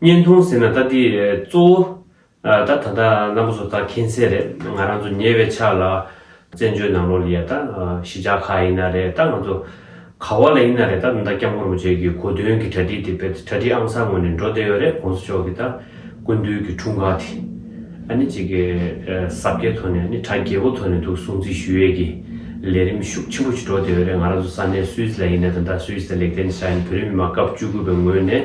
བརྙན་ཐུང་ཟེར་ན་ད་འདི་གཙོ་བོ། ད་ད་ལྟ་རྣམ་པ་ཚོ་ད་མཁྱེན་གསལ་རེད་ང་རང་ཚོ་ཉེ་བའི་ཆར་ལ། བཙན་བྱོལ་ནང་ལོགས་ལ་ཡ་ད་གཞིས་ཆགས་ཁག་ཡིན་ན་རེད་ད་ང་ཚོ། ག་བ་ལ་ཡིན་ན་རེད་ད་ད་སྐྱབས་མགོན་རིན་པོ་ཆེ་གི་གོ་དོན་གི་གྲ་སྒྲིག་དེ་དཔེ་གྲ་སྒྲིག་ཨང་གསར་ངོས་ནས་འགྲོ་བསྡད་ཡོད་རེད་གོང་ས་མཆོག་གི་ད་སྐུ་མདུན་གི་འཁྲུངས་སྐར་དེ། ཨ་ནི་གཅིག་གི་གཟབ་རྒྱས་ཐོག་ནས་ཨ་ནི་གྲ་རྒྱས་པོ་ཐོག་ནས་འདུག་སྲུང་བརྩི་ཞུ་ཡས་ཀྱི་ལས་རིམ་ཤུགས་ཆེན་པོ་ཞིག་འགྲོ་བསྡད་ཡོད་རེད་ང་རང་ཚོ་ས་གནས་སུད་སི་ལ་ཡིན་ན་ད་ད་སུད་སི་ལ་ལེགས་ལྡན་ས་ཡིན་བོད་རིགས་མི་དམངས་སྐབས་བཅུ་དགུ་པའི་ངོས་ནས།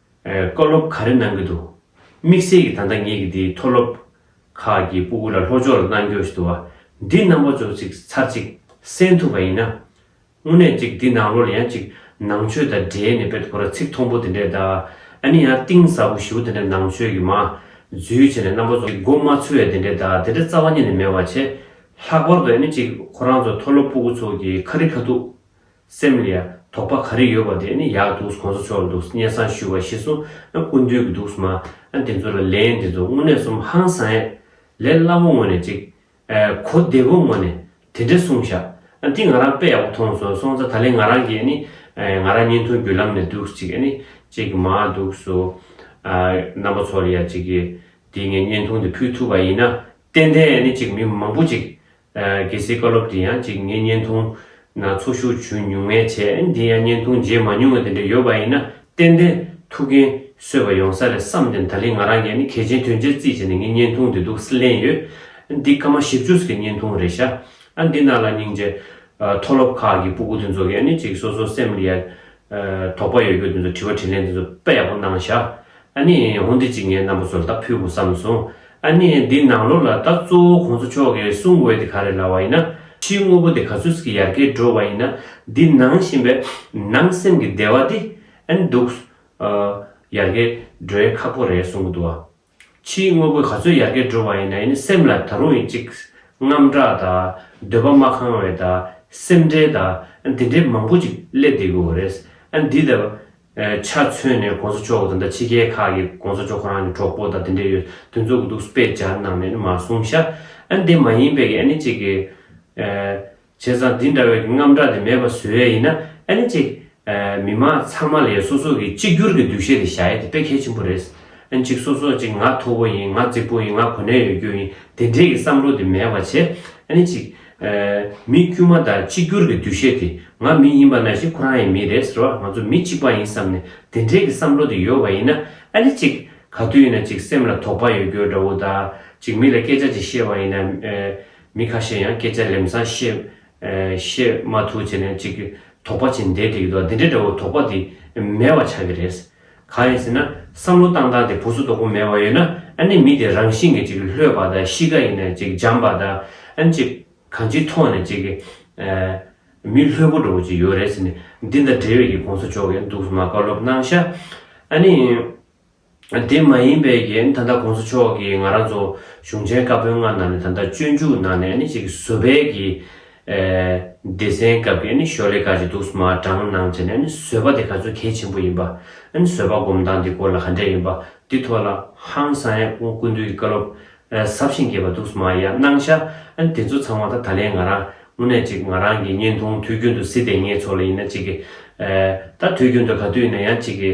བཀའ་སློབ་ག་རེ་གནང་གི་འདུག་དམིགས་བསལ་གྱི་ད་ལྟ་ངེད་ཀྱི་འདིའི་མཐོ་སློབ་ཁག་གི་སྤུ་གུ་ལ་ལྷོ་ཕྱོགས་ལ་གནང་རྒྱུ་ཞིག་འདུག་བ་འདི་རྣམ་པ་ཙོག་ཅིག་ཚར་གཅིག་གསན་ཐུབ་པ་ཡིན་ན། དངོས་གནས་ཅིག་འདི་ནང་ལོ་ལ་ཡང་ཅིག་ནང་ཆོས་དང་འབྲེལ་ནས་དཔེ་ཐོ་ར་ཚིག་མཐོང་པོ་དེ་འདྲས་དང་ཨ་ནི་ཡང་གཏིང་ཟབ་པོ་བཞི་བོ་དེ་འདྲས་ནང་ཆོས་ཀྱི་མ་རྫུས་བྱས་ནས་རྣམ་པ་ཙོག་ཅིག་མགོ་མ་ཚོས་དེ་འདྲས་དང་དེ་འདྲས་རྩ་བ་ཉིད་ནས་མེད་བ་བྱས། ལྷག་པར་དུ་ཨ་ནི་ཅིག་ཁོ་རང་ཚོ་མཐོ་སློབ་སྤུ་གུ་ཚོགས་ཀྱི་ཁ་རི་ཁ་ཐུག་སེམས་ལ་དོགས་པ་ག་རེ་ཡོད་པ་དེ་ནི་ཡག་འདུག་གོང་ས་མཆོག་འདུག་བརྙན་བཟང་ཞུ་བ་ཤེས་སོང་ཨ་ཀུན་འདུས་ཀྱི་འདུག་མ་ཨ་འདི་ཚོ་ལ་ལན་འདི་ཚོ་དངོས་གནས་གསུམ་ཧང་བསང་ཨེ། ལས་སླ་བོ་ངོ་ནས་གཅིག། གོ་བདེ་བོ་ངོ་ནས་དེ་འདྲ་གསུངས་ཤག་ཨ་འདི་ང་རང་དཔེ་ཡག་པོ་མཐོང་སོང་སོང་ཙ་ད་ལན་ང་རང་གིས་ནི་ང་རང་བརྙན་ཐུང་བརྒྱུད་ལམ་ནས་འདུག་གཅིག་ཨ་ནི་གཅིག་མ་འདུག་སུ་ཨ་རྣམ་པ་ཚོར་ཡ་གཅིག་གིས་འདི་ངས་བརྙན་ཐུང་འདི་ཕུལ་ཐུབ་པ་ཡིན་ན་ཏན་ཏན་ཨ་ནི་གཅིག་མི་མང་པོ་གཅིག་གལ་སྲིད་བཀའ་སློབ་དེ་ཡང་གཅིག་ངས་བརྙན་ཐུང་ན་ཚོགས་ཞུགས་བྱུང་མྱོང་མེད་ཆེ་འདི་ཡང་བརྙན་ཐུང་མཇལ་མ་མྱོང་བ་དེ་འདྲ་ཡོད་པ་ཡིན་ན་ཏན་ཏན་ཐུགས་འགན་གསོས་པ་ཡོང་ས་རེད་བསམ་ནས་ད་རིང་ང་རང་གིས་ནི་གལ་ཆེན་དོན་ཆེན་རྩིས་བྱས་ནས་ངས་བརྙན་ཐུང་འདི་འདུག་ལན་ཡོད། འདི་ཀ་མ་ཞིབ་འཇུགས་ཀྱི་བརྙན་ཐུང་རེད་ཤག་ཨ་འདི་ནང་ལ་སྙིང་རྗེ། མཐོ་སློབ་ཁག་གི་སྤུ་གུ་དེ་ཚོ་གིས་ནི་གཅིག་སོ་སོ་སེམས་ལ་ཡ། དོགས་པ་ཡོད་རྒྱུ་དེ་ཚོ་དྲི་བ་དྲིས་ལན་དེ་ཚོ་དཔེ་ཡག་པོ་གནང་བཞག་ཨ་ནི་ཧོན་དེ་གཅིག་ངའི་རྣམ་པ་ཚོར་ད་ཕུལ་དགོས་བསམ་སོང་ཨ་ནི་འདི་ནང་ལོགས་ལ་ད་གཙོ་བོ་ཁོང་ཚོ་མཆོག་གིས་གསུང་འོས་དེ་ག་རེ་ལ་བ་ཡིན་ན་ཕྱིའི་དངོས་པོ་དེ་ག་ཚོད་ཀྱི་ཡར་གས་འགྲོ་བ་ཡིན་ན་འདི་ནང་བཞིན་པའི་ནང་སེམས་ཀྱི་བདེ་བ་དེ་ཨ་ནི་འདུག་ཨ་ཡར་གས་འགྲོ་ཡ་ཁག་པོ་རེད་གསུང་གི་འདུག་ཨ་ཕྱིའི་དངོས་པོ་ག་ཚོད་ཡར་རྒྱས་འགྲོ་བ་ཡིན་ན་ཡིན་ནི་སེམས་ལ་ད་རུང་ཡིན་གཅིག། རྔམ་སྐྲག་དང། འདོད་པ་མ་ཁང་བའི་དང། སེམས་ཁྲལ་དང། དེ་འདྲའི་མང་པོ་ཅིག་སླེབས་བསྡད་དགོས་བ་རེད། འདི་ལྟ་བུ། ཆ་མཚོན་ནས་གོང་ས་མཆོག་དང་འདྲ་ཕྱི་རྒྱལ་ཁག་གི་གོང་ས་མཆོག་ཁོ་རང་གི་གྲོགས་པོ་དང་དེ་འདྲས་ཡོད་དོན་རྫོགས་གི་འདུག་སྤེ་སྦྱར་གནང་ནས་ནི་མ་གསུངས་ཤག། འདི་མ་ཡིན་པའི་གནས་གཅིག་གི། བྱས་ཙང་འདི་འདྲ་བའི་རྔམ་སྐྲག་དེ་མེད་པ་བཟོས་ཡས་ཡིན་ན་ཨེ་ནི་ཅིག། མི་དམངས་ཚང་མ་ལས་སོ་སོ་གིས་གཅིག་གྱུར་གྱི་འདུ་ཤེས་དེ་བཞག་ཡས་དེ་དཔེ་གལ་ཆེན་པོ་རེད། ཨེ་ནི་ཅིག་སོ་སོ་ཅིག་ང་མཐོ་པོ་ཡིན་ང་རྩིག་པོ་ཡིན་ང་གོ་གནས་ཡོད་རྒྱུ་ཡིན་དེ་འདྲས་ཀྱི་བསམ་བློ་དེ་མེད་པ་བྱས་ཨེ་ནི་ཅིག། མི་དཀྱུས་མ་དང་གཅིག་གྱུར་གྱི་འདུ་ཤེས་དེ་ང་མི་ཡིན་པ་ན་བཞིན་ཁོ་རང་ཡས་མི་རེད་ཟེར་བ་ང་ཚོ་མི་གཅིག་པ་ཡིན་བསམ་ནས་དེ་འདྲས་ཀྱི་བསམ་བློ་དེ་ཡོད་པ་ཡིན་ན་ཨེ་ནི་ཅིག། ག་དུས་ཡིན་ན་ཅིག་སེམས་ལ་དོགས་པ་ཡོད་རྒྱུ་འདྲ་བོ་དང་ཅིག་མི་ལ་སྐད་ཆ་ཅིག་བཤད་པ་ཡིན་ན། མི་ཁ་ཤས་ཡང་སྐད་ཆ་ལེམ་སང་བཤད་མ་ཐུབ་བྱས་ནས་ཅིག་དོགས་པ་བྱེད་འདས་དེ་ཡོད་འདི་འདྲའི་འདྲ་བོ་དོགས་པ་དེ་མེད་བ་ཆགས་ཀྱི་རེད། གང་ཡིན་ཟེར་ན་བསམ་བློ་བཏང་སྟངས་དེ་ཕུགས་སུ་དོགས་པོ་མེད་བ་ཡོད་ན་ཨ་ནི་མི་དེ་རང་བཞིན་གྱི་ཅིག་ལྷོད་པ་དང་གཤིས་ཀ་ཡིན་ན་ཅིག་འཇམ་པ་དང་ཨ་ནི་ཅིག་གང་ཅིའི་ཐོག་ནས་ཅིག་མི་ལྷོད་པོ་འདྲ་བོ་ཅིག་ཡོད་རེད་ཟེར་ནས་འདི་འདྲ་འབྲེལ་ཡོད་ཀྱི་གོང་ས་མཆོག་གིས་འདུག་སྨྲ་བཀའ་སློབ་གནང་ཤག་ཨ་ནི། དེ་མ་ཡིན་པའི་རྐྱེན་ད་ལྟ་གོང་ས་མཆོག་གིས་ང་རང་ཚོ་གཞུང་ཆེན་བཀའ་བོན་ལྔ་ནང་ནས་ད་ལྟ་སྤྱོད་འཇུག་ནང་ནས་ནི་གཅིག་བཟོ་བལ་གྱི་སྡེ་ཚན་སྐབས་ཀྱི་ནི་ཤོ་ལེ་ཀ་ཅིག་འདུག་མ་དྲང་སྣང་བྱས་ནས་ནི་བཟོ་བ་དེ་ག་ཚོད་གལ་ཆེན་པོ་ཡིན་པ། བཟོ་བ་སྒོམ་སྟངས་དེ་གོ་ལ་ག་འདྲས་ཡིན་པ་དེ་ཐོག་ལ་ཧང་སང་ཡ་ཀུན་འདུས་ཀྱི་བཀའ་སློབ་ཟབ་ཞིང་རྒྱས་པ་འདུག་མ་ཡ་སྣང་ཤ་དེ་ཚོ་ཚང་མ་ད་ད་ལན་ང་རང་དངོས་གནས་གཅིག་ང་རང་གི་བརྙན་ཐུང་དུས་རྒྱུན་དུ་སི་ཏེ་ངེད་ཚོ་ལ་ཡིན་ན་གཅིག་གི་ད་དུས་རྒྱུན་དུ་ག་དུས་ཡིན་ན་ཡང་གཅིག་གི།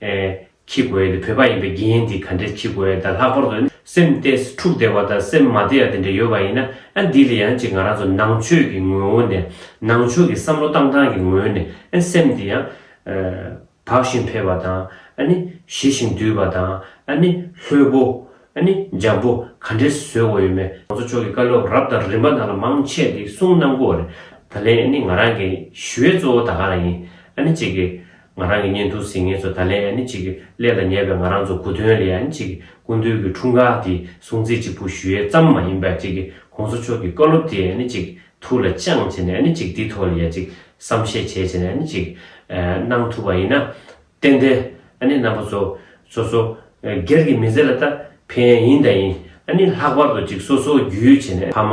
ཨེ། ཁྱི་གོ་ཡེ་འདི་བོད་པ་ཡིན་པའི་དགེ་ཡེ་འདི་ག་འདྲའི་ཁྱི་གོ་ཡེ་ད་ལྷག་པར་དུ་སེམས་བལྟས་འཁྲུག་བདེ་བ་དང་སེམས་མ་བདེ་ཡག་དེ་འདྲ་ཡོད་པ་ཡིན་ན་ཨེ་འདི་ལ་ཡང་ཅིག་ང་རང་ཚོ་ནང་ཆོས་ཀྱི་ངོས་བོ་ནས་ནང་ཆོས་ཀྱི་བསམ་བློ་བཏང་སྟངས་ཀྱི་ངོས་ནས་ཨེ་སེམས་འདི་ཡང། བག་བཞིན་འཕེལ་བ་དང་ཨེ་ནི། ཞི་བཞིན་དུལ་བ་དང་ཨེ་ནི། ལྷོད་པོ། ཨེ་ནི། འཇམ་པོ་ག་འདྲའི་བཟོད་དགོས་ཡོད་མེད། ང་ཚོ་ཕྱོགས་ཀྱི་བཀའ་སློབ་རབ་དང་རིམ་པ་ནང་ལ་མང་ཆེས་འདི་གསུངས་གནང་དགོས་རེད། ད་ལན་ཨེ་ནི་ང་རང་གི་ཞུ་ཡས་གཙོ་བོ་ད་ག་རང་ཡིན་ཨེ་ནི་ཅིག་གི། ང་རང་གི་བརྙན་ཐུང་ཟིན་ངེས་ཚོ་ད་ལན་ཡ་ནི་ཅིག་གླད་ལ་ཉལ་བའི་ང་རང་ཚོ་གུ་དོན་ལ་ཡ་ནི་ཅིག་སྐུ་མདུན་གྱི་འཁྲུངས་སྐར་དེ་སྲུང་བརྩི་གཅིག་པུ་ཞུ་ཡས་ཙམ་མ་ཡིན་པར་ཅིག་གོང་ས་མཆོག་གི་བཀའ་སློབ་དེ་ཡ་ནི་ཅིག་ཐུགས་ལ་བཅངས་བྱས་ནས་ཡ་ནི་ཅིག་དེ་ཐོག་ལ་ཡ་ཅིག་བསམ་ཤེས་བྱས་བྱས་ནས་ཡ་ནི་ཅིག་གནང་ཐུབ་པ་ཡིན་ན། ཏན་ཏན་ཡ་ནི་རྣམ་པ་ཚོ་སོ་སོ་སྒེར་གྱི་མི་ཚེ་ལ་ད་ཕན་ཡིན་ད་ཡིན་ཡ་ནི་ལྷག་པར་དུ་ཅིག་སོ་སོ་རྒྱུས་ཡོད་བྱས་ནས་ཕ་མ་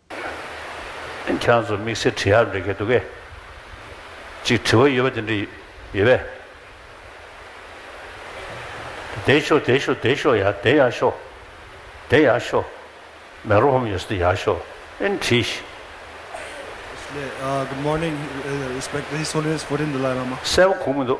ཁྱོད་ཚོ་དམིགས་བསལ་དྲི་ཧབ་འབྲི་མཁན་འདུག་གས། ཅིག་དྲི་བ་ཡོད་པ་དེ་འདྲ་ཡོད་པས། དེ་ཤོ་དེ་ཤོ་དེ་ཤོ་ཡ་དེ་ཡ་ཤོ། དེ་ཡ་ཤོ། མེ་རོ་ཧོམ་ཡོད་ས་དེ་ཡ་ཤོ། ཨིན་དྲི་ཤི། གསལ་པོ་གོང་མི་འདུག།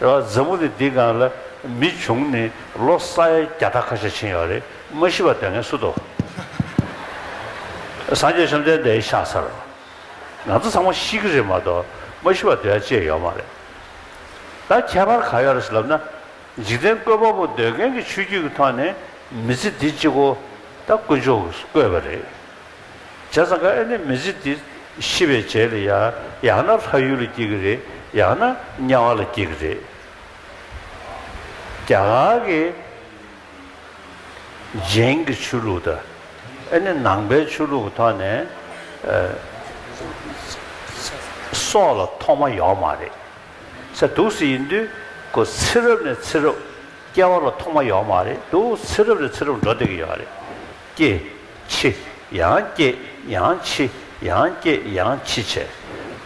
མཛའ་མོ་ནི་འདི་གང་ལ་མི་བྱུང་ནི་ལོ་ས་ཡ་བརྒྱ་ཕྲག་ཁ་ཤས་ཕྱིན་ཡོད་རེད་མ་ཤི་བ་དོན་ངན་སུ་དོ། སངས་རྒྱས་བཅོམ་ལྡན་འདས་ཤ་ཚ་རོ། ང་ཚོ་ཚང་མ་ཤི་གི་རེད་མ་གཏོགས་མ་ཤི་བ་འདོད་ཡ་ཅེས་ཡོད་མ་རེད། ད་ཁྱད་པར་ག་ཡོད་རེད་ལབ་ན། འཇིག་རྟེན་བཀོད་པ་པོ་འདོད་མཁན་གྱི་ཆོས་བརྒྱུད་ཀྱི་ཐོག་ནས་མི་ཚེ་འདི་གཅིག་གོ། ད་དཀོན་མཆོག་གིས་བཀོད་པ་རེད། བྱས་ཙང་ཁ་ཨེ་ནི་མི་ཚེ་འདི་ཤི་བའི་རྗེས་ལ་ཡ་ཡང་ན་ལྷ་ཡུལ་ལ་སྐྱེ་གི་རེད་ཡང་ན་དམྱལ་བ་ལ་སྐྱེ་གི་རེད། རྒྱ་གར་གྱི་རྗེན་གྱི་ཆོས་ལུགས་དང་ཨེ་ནི་ནང་པའི་ཆོས་ལུགས་ཀྱི་ཐོག་ནས་སྲོག་ལ་ཐོག་མ་ཡོད་མ་རེད། ཚེ་དུག་སེལ་ཡིན་དུས་ཁོ་ཚེ་རབས་ནས་ཚེ་རབས་སྐྱེ་བ་ལ་ཐོག་མ་ཡོད་མ་རེད་དུག་ཚེ་རབས་ནས་ཚེ་རབས་འགྲོ་བསྡད་ཀྱི་ཡོད་རེད། སྐྱེས། འཆི། ཡང་སྐྱེས། ཡང་འཆི། ཡང་སྐྱེས། ཡང་འཆི་བྱས།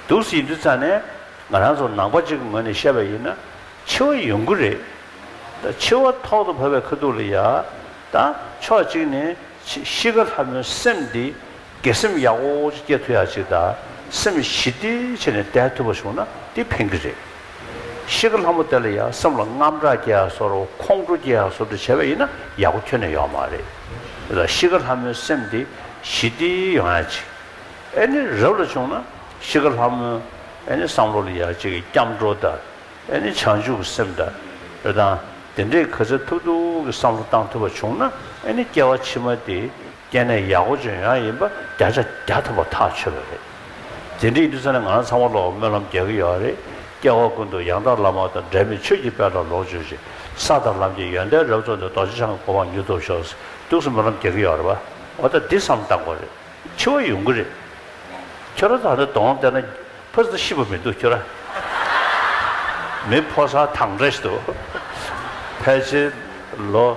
དུག་སེལ་དུས་ཚ་ནས། ང་རང་ཚོ་ནང་པ་གཅིག་གི་ངོས་ནས་བཤད་པ་ཡིན་ན། འཆི་བ་ཡོང་གི་རེད། ད་འཆི་བ་ཐོག་ཏུ་བབས་པའི་ཁ་ཐུག་ལ་ཡ། ད། ཕྱོགས་གཅིག་ནས། ཤི་ཁ་ལྷ་མོའི་སེམས་འདི། དགེ་སེམས་ཡག་པོ་ཅིག་སྐྱེ་ཐུབ་ཡག་གཅིག་ད་སེམས་ཞི་བདེ་ཆེ་ནས་བསྡད་ཐུབ་པ་བྱུང་ན་དེ་ཕན་གྱི་རེད། གཤིས་ཀ་ལྷ་མོ་དེ་ལ་ཡང་སེམས་ལ་རྔམ་སྐྲག་སྐྱེ་ཡག་སོ་རོ་ཁོང་ཁྲོ་སྐྱེ་ཡག་སོ་དྲུག་བྱེད་པ་ཡིན་ན་ཡག་པོ་ཁྱོན་ནས་ཡོང་མ་རེད། དེ་ལ་གཤིས་ཀ་ལྷ་མོའི་སེམས་དེ་ཞི་བདེ་ཡོང་ཡག་གཅིག་ཨེ་ནི་རབ་ལ་བྱུང་ན་གཤིས་ཀ་ལྷ་མོ་ཨེ་ནི་བསམ་བློ་ལ་ཡག་གཅིག་སྐྱབས་འགྲོ་ད་ཨེ་ནི་བྱང་ཆུབ་ཀྱི་སེམས་ད་རེད་ད་དེ་འདྲའི་ག་ཚད་ཐུབ་ཐུབ་ཀྱི་བསམ་བློ་བཏང་ཐུབ་པ་བྱུང་ན་ཨེ་ནི་སྐྱེ་བ་ཕྱི་མ་དེ། སྐྱེས་ནས་ཡག་པོ་ལྗོན་ཤང་ཡིན་པ་བརྒྱ་ཆ་བརྒྱ་ཐུབ་པ་ཐག་ཆོད་པ་རེད། དེ་འདྲའི་ཡིན་ས་ནི་ང་རང་ཚང་མ་བློ་བ་སྨོན་ལམ་རྒྱག་གི་ཡོད་རེད། སྐྱེ་བ་ཀུན་ཏུ་ཡང་དག་བླ་མ་དང་འབྲལ་མེད་ཆོས་ཀྱི་དཔལ་ལ་ལོངས་སྤྱོད་ཅིག། ས་དང་ལམ་གྱི་ཡོན་ཏན་རབ་རྫོགས་ནས་རྡོ་རྗེ་འཆང་གི་གོ་འཕང་མྱུར་ཐོབ་ཤོག་ཐུགས་སུ་སྨོན་ལམ་རྒྱག་གི་ཡོད་རེད་བ། འོ་ད་འདི་བསམ་བཏང་གོ་རེད། འཆི་བ་ཡོང་གི་རེད། ཁྱོད་རང་ད་ནི་གདོང་བལྟས་ན། ཕ་ཟེར་ཤི་བ་མི་འདུག་ཁྱོད་རང། མི་ཕོ་སར་ཐང་འདྲ་ཞིག་འདུག། ཕལ་ཆེར་ལོ།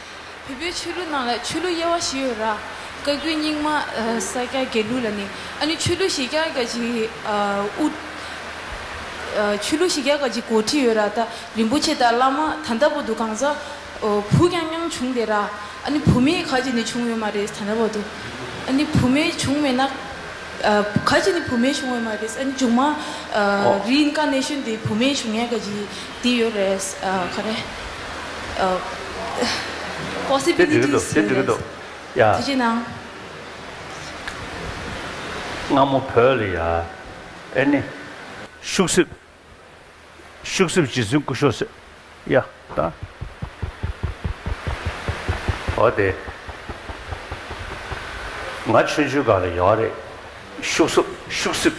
བལ་པོའི་ཆོས་ལུགས་ནང་ལ་ཆོས་ལུགས་དབྱེ་བ་བཞི་ཡོད་ར། བཀའ་རྒྱུད་རྙིང་མ། ས་སྐྱ་རྒྱལ་ལུགས་ལ་ནི། ཨ་ནི་ཆོས་ལུགས་བཞི་བརྒྱ་དགའ་བཞི། ཨུཏྤལ། ཆོས་ལུགས་བཞི་བརྒྱ་དགའ་བཞི་གོ་ཁྲི་ཡོད་ར་ད། རིན་པོ་ཆེ་དང་བླ་མ་ད་འདྲ་པོ་འདུག་གང་ཟག། བུ་ཀྱང་མྱང་བྱུང་སྟེ་ར། ཨ་ནི་བུ་མེད་ག་གཅིག་ནི་བྱུང་ཡོད་མ་རེད་ད་འདྲ་པོ་འདུག། ཨ་ནི་བུ་མེད་བྱུང་མེད་ན། ག་གཅིག་ནི་བུ་མེད་བྱུང་ཡོད་མ་རེད། ཨ་ནི་མཇུག་མ། རིན་དཀར་གནས་ཤུལ་འདི་བུ་མེད་བྱུང་ཡས་དགའ་བཞི། འདི་ཡོད་རེད། ག་རེ། དེ་འགྲིག་གི་འདུག་དེ་འགྲིག་གི་འདུག་ཡ། དེ་ཅི་གནང། སྔ་མོ་བོད་ལ་ཡ། ཨེ་ནི། ཤུག་སྲིབ། ཤུག་སྲིབ་རྗེ་བཙུན་སྐུ་ཤོག་སེ། ཡ། ད། ཨོ་དེ། ང་ཆོས་འཇུ་ག་ལ་ཡོག་རེད། ཤུག་སྲིབ་ཤུག་སྲིབ།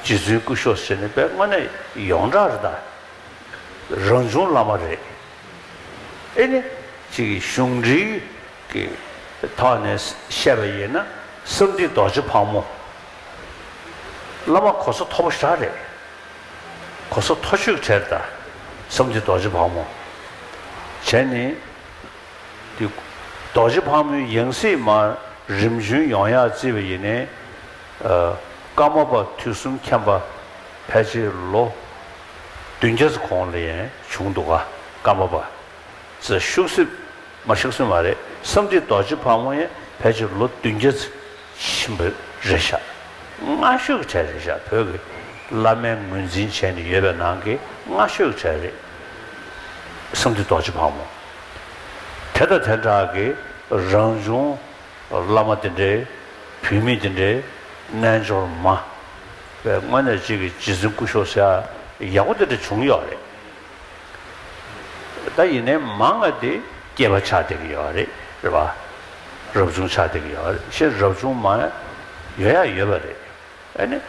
རྗེ་བཙུན་སྐུ་ཤོག་ཟེར་ནི་པའི་དངོས་གནས་ཡོངས་གྲགས་རེད་ད། རང་བྱུང་བླ་མ་རེད། ཨེ་ནི། ཅིག་གཞུང་འགྲེལ་གྱི་ཐོག་ནས་བཤད་པ་ཡིན་ན་བསམ་འདི་རྡོ་རྗེ་ཕག་མོ་བླ་མ་གོ་ས་མཐོ་པོ་ཞག་རེད། གོ་ས་མཐོ་ཤོས་གྲལ་ད། བསམ་འདི་རྡོ་རྗེ་ཕག་མོ་གྲལ་ནི། རྡོ་རྗེ་ཕག་མོའི་ཡང་སྲིད་མ་རིམ་བྱོན་ཡོངས་ཡག་བརྩི་བ་ཡིན་ནི། ཀརྨ་པ་དུས་གསུམ་མཁྱེན་པ་ཕལ་ཆེར་ལོ་བདུན་བརྒྱ་ཚོ་གོང་ལ་ཡན་བྱུང་འདུག་ག་ཀརྨ་པ་ཚེ་ཤུག་སྲིད་མ་ཤུག་སྲིད་མ་རེད་བསམ་འགྲིག་རྡོ་རྗེ་ཕག་མོ་ཡན་ཕལ་ཆེར་ལོ་བདུན་བརྒྱ་ཚེ་ཆེན་པོ་རེད་ཤག་སྔ་ཤོས་ཀྱི་གྲས་རེད་ཤག་བོད་ཀྱི་བླ་མའི་ངོས་འཛིན་བྱས་ནས་ཡོད་པའི་ནང་གི་སྔ་ཤོས་ཀྱི་གྲས་རེད་བསམ་འགྲིག་རྡོ་རྗེ་ཕག་མོ་དེ་དང་དེ་འདྲ་གི་རང་བྱུང། བླ་མ་དེ་འདྲའི་བུད་མེད་དེ་འདྲའི་རྣལ་འབྱོར་མ་བས་དངོས་གནས་གཅིག་གིས་གཅིག་འཛིན་སྐུ་ཤོག་སེར་ཡག་པོ་དེ་འདྲ་བྱུང་ཡོད་རེད། ད་ཡིན་ནའི་མ་ང་དེ་སྐྱེས་པ་ཆགས་བསྡད་ཀྱི་ཡོད་རེད་རེད་པ། རབ་བྱུང་ཆགས་བསྡད་ཀྱི་ཡོད་རེད་ཤེས་རབ་བྱུང་མ་ཡོད་ཡ་ཡོད་པ་རེད་ཨེ་ནི།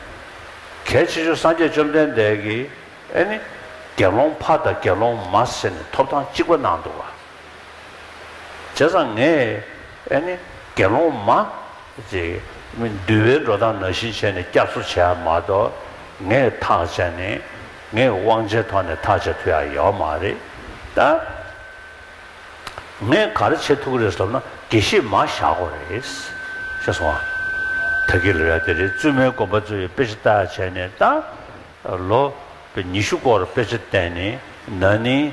གལ་ཆེ་ཤོས་སངས་རྒྱས་བཅོམ་ལྡན་འདས་ཀྱིས་ཨེ་ནི། དགེ་སློང་ཕ་དང་དགེ་སློང་མ་ཟེར་ནས་ཐོབ་ཐང་གཅིག་པ་གནང་འདུག་བ། བྱས་ཙང་ངས་ཨེ་ནི་དགེ་སློང་མ། ཅེས་འདུལ་བའི་འགྲོ་སྟངས་ནང་བཞིན་བྱས་ནས་སྐྱབས་གསོ་བྱས་ཡ་མ་གཏོགས་ངས་ཐག་བཅད་ནས་ངས་དབང་ཆའི་ཐོག་ནས་ཐག་བཅད་ཐུབ་ཡ་ཡོད་མ་རེད་ད། ངས་གར་བྱེད་ཐུག་རེད་བསམ་ན་དགེ་བཤེས་མ་བཞག་གོ་རེད། ཤེས་སོང་ང། ད་དགེ་ལ་ར་དེ་རེད་བཙུན་མའི་དགོན་པ་གཙོས་པའི་དཔེ་ཆ་བལྟ་ཡ་བྱས་ནས་ད། ལོ་ཉི་ཤུ་སྐོར་དཔེ་ཆ་བལྟས་ནས་ན་ནིང།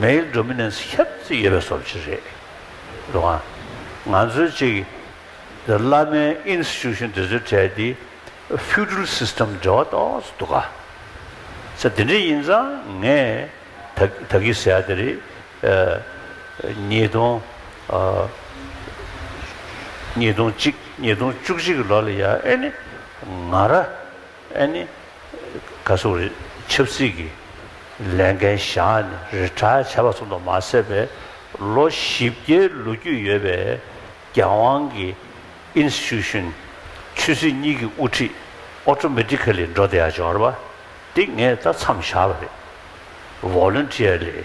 མེའི་འགྲོ་མི་ནི་ཁྱབ་ཚིག་ཡོད་པའི་སོར་བཞི་རེད། འགྲོ་གང། ང་ཚོའི་གཅིག། འདི་བླ་མའི Institution དེ་ཚོའི་གྲས་དེ Feudal System འབྲེལ་བ་ཏོག་ཙམ་འདུག་ག། ཚེ་འདི་འདྲའི་ཡིན་ཙང་ངས་ད་ད་གི་ཟེར་ཡག་དེ་རེད། ཉིས་སྟོང། ཉིས་སྟོང་གཅིག་ཉིས་སྟོང་བཅུ་གཅིག་གི་ལོ་ལ་ཡ་ཨེ་ནི་ང་ར་ཨེ་ནི། ག་སོགས་རིགས་ཆབ་སྲིད་ཀྱི་ལས་འགན་བཞག་ནས་རི་བྲག་བྱས་པ་ཙམ་དུ་མ་ཟད་པའི་ལོ་བཞི་བརྒྱའི་ལོ་རྒྱུས་ཡོད་པའི་རྒྱལ་དབང་གི Institution། ཆོས་སྲིད་གཉིས་ཀྱི་དབུ་ཁྲིད Automatically འགྲོ་བདེ་ཡག་འབྱོར་བ། འདི་ངས་ལྟ་མཚམས་བཞག་པ་རེད། Voluntarily།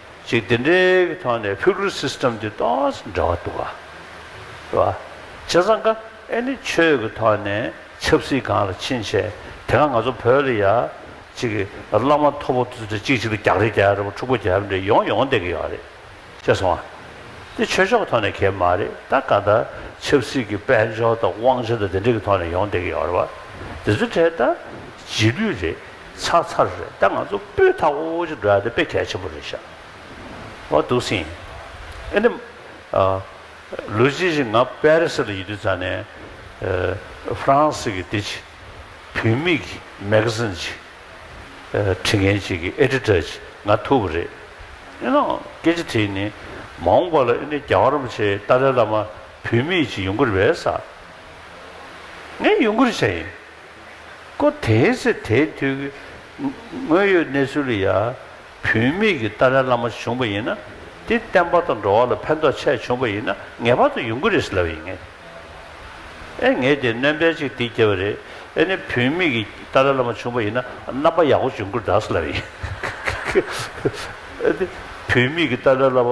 ཅིག་འདི་འདྲའི་གི་ཐོག་ནས Feudal System འདི་ཏོགས་འདྲ་བ་འདུག་ག་རེད་བ། བྱས་ཙང་ག་ཨེ་ནི་ཆོས་གི་ཐོག་ནས་ཆབ་སྲིད་གང་ལ་ཕྱིན་བྱས་དེ་ག་ང་ཚོ་བོད་ལ་ཡ་ཅིག་གི་བླ་མ་མཐོ་པོ་འདི་འདྲ་ཅིག་ཅིག་ལ་རྒྱག་རེ་རྒྱག་རེ་བ་འཁྲུག་པ་རྒྱག་རེ་འདྲ་ཡོང་ཡོང་བསྡད་གི་ཡོད་རེད་ཤེས་སོང་ང། འདི་ཆོས་ཕྱོགས་གི་ཐོག་ནས་གལ་མ་རེད་ད་ག་ད་ཆབ་སྲིད་གི་དཔལ་འབྱོར་དང་དབང་ཆ་དང་འདི་འདྲའི་གི་ཐོག་ནས་ཡོང་བསྡད་གི་ཡོད་རེད་བ། འདི་ཚོ་འདྲས་ད་རྗེས་ལུས་རེད། ཚར་ཚར་རེད་ད་ང་ཚོ་སྤུས་མཐའ་དབུལ་བོ་ཅིག་འགྲོ་ཡ་དེ་དཔེ་གལ་ཆེན་པོ་རེད་ཤག་འོ་འདུག་སིང། ཨེ་ནི། ལོ་གཅིག་ཅིག་ང་པེ་རི་སི་ལ་ཡི་དུས་ཙང་ནས། ཧྥ་རན་སི་གི་འདི་ཅིག་བུད་མེད་ཀྱི་མེ་གྷ་ཟིན་ཅིག་འཁྲི་མཁན་ཅིག་གི་ཨེ་ཏི་ཏར་ཅིག་ང་ཐུག་པ་རེད། ཨེ་ནའོ་སྐད་ཆ་དེ་ནི་མ་འོངས་པ་ལ་ཨེ་ནི་རྒྱ་གར་རིན་པོ་ཆེ་ཏཱ་ལའི་བླ་མ་བུད་མེད་ཅིག་ཡོང་གི་རེད་བསམ། ངས་ཡོང་གི་རེད་བྱས་ཡིན། སྐུ་དེའི་ཚེ་དེའི་དུས་ཀྱི་དངོས་ཡོད་གནས་ཚུལ་ལ་ཡང་བུད་མེད་ཀྱི་ཏཱ་ལའི་བླ་མ་བྱུང་བ་ཡིན་ན་དེ་བསྟན་པ་དང་འགྲོ་བ་ལ་ཕན་ཐོགས་ཆེད་བྱུང་བ་ཡིན་ན་ངེས་པར་དུ་ཡུན་ཀུ་རེས་ལབ་ཡིན་ངེས། ཨེ་ངེས་དེ་ནོན་པའི་ཅིག་དེ་སྐྱེ་བ་རེད་ཨེ་ནི་བུད་མེད་ཀྱི་ཏཱ་ལའི་བླ་མ་བྱུང་བ་ཡིན་ན་རྣམ་པ་ཡག་པོ་བྱུང་ཀུ་རེས་ལབ་ཡིན། ཨེ་དེ་བུད་མེད་ཀྱི་ཏཱ་ལའི་བླ་མ་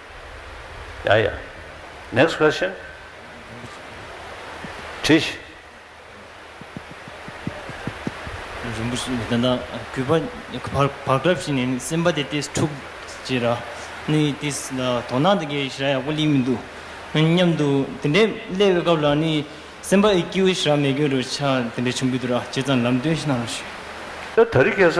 ཡ་ཡ། Next question། དྲི་ཞིག། རིན་པོ་ཆེ་ད་ལྟ་གུས་པ་བག་གྲབས་བྱས་ནས་ནི་སེམས་པ་དེ་ཏིས་འཁྲུག་ཅེས་ར་ནི་ཏིས་ལ་དོ་སྣང་དེ་གའི་ཞེ་ར་ཡག་པོ་གླིང་མི་འདུག་སྙམ་འདུག་དེ་འདྲའི་གླེ་བའི་སྐབས་ལ་ནི་སེམས་པ་ཨི་ཀྱིའུ་ཞེ་ར་མེད་གྱུར་རོ་ཆ་དེ་འདྲ་བྱུང་གི་འདུག་ར་བྱས་ཙང་ལམ་སྟོན་ཞིག་གནང་རོགས་ཞུ། ད་རི་གས་ས་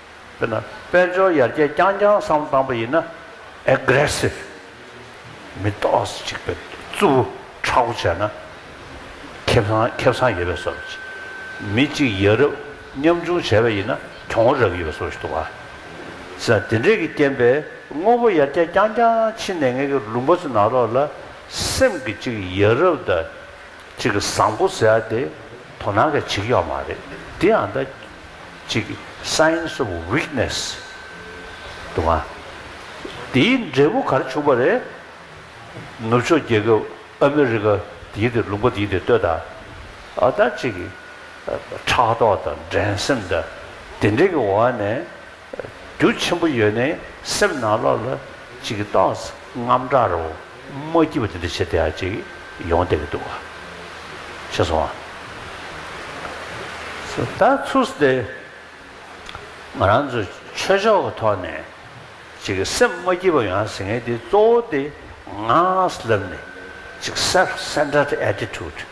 དཔེར་ན་དཔལ་འབྱོར་ཡར་རྒྱས་རྐྱང་རྐྱང་བསམ་བཏང་པ་ཡིན་ན། Aggressive། མི་རྟོགས་སུ་གཅིག་པའི་རྩུབ་བོ་ཕྲག་བོ་བྱས་ན། ཁེབས་ཚང་ཁེབས་ཚང་ཡོད་པའི་བཟོ་བྱེད། མི་གཅིག་ཡ་རབས་ཉམ་ཆུང་བྱས་པ་ཡིན་ན་གྱོང་བོ་རབ་ཡོད་པའི་བཟོ་བྱེད་དུ་བ། ཅེས་དང་དེ་འདྲས་ཀྱི་རྐྱེན་པས་དངོས་པོ་ཡར་རྒྱས་རྐྱང་རྐྱང་ཕྱིན་ནས་ངེད་ཀྱི་ལུང་པ་ཚོའི་ནང་རོགས་ལ་སེམས་ཀྱི་གཅིག་ཡ་རབས་དང། གཅིག་གི་བཟང་པོ་ཟེར་ཏེ་དོ་སྣང་གི་བྱེད་ཀྱི་ཡོད་མ་རེད་དེ་ཡང་ད་གཅིག་གི Signs of Weakness དུ་མ་དེའི་འབྲས་བུ་གར་བྱུང་པ་རེད། ནུབ་ཕྱོགས་རྒྱལ་ཁབ་ཨ་མི་རི་ཀ་དེའི་དེ་ལུང་པ་དེའི་དེ་ལྟོས་དང་ཨ་ད་གཅིག་གི་ཕྲག་དོག་དང་འགྲན་སེམས་དང་དེ་འདྲའི་གི་འོག་ནས། རྒྱུ་ཆེན་པོ་ཡོད་ནི་སེམས་ནང་ལོགས་ལ་ཅིག་རྟོག་སྔམ་དྲག་རོ་མ་སྐྱིད་པ་དེ་འདྲ་བྱེད་དེ་ཨ་ཅིག་ཡོང་བསྡད་ཀྱི་འདུག་བ་ཤེས་སོང་ཨ། ད་ཚུགས་སུ་དེ་ང་རང་ཚོ་ཆོས་ཕྱོགས་ཀྱི་ཐོག་ནས་ཅིག་སེམས་མ་སྐྱིད་པ་ཡོང་ཟེར་མཁན་དེ་གཙོ་བོ་དེ་ངག་ལབ་ནས་ཅིག self centered attitude།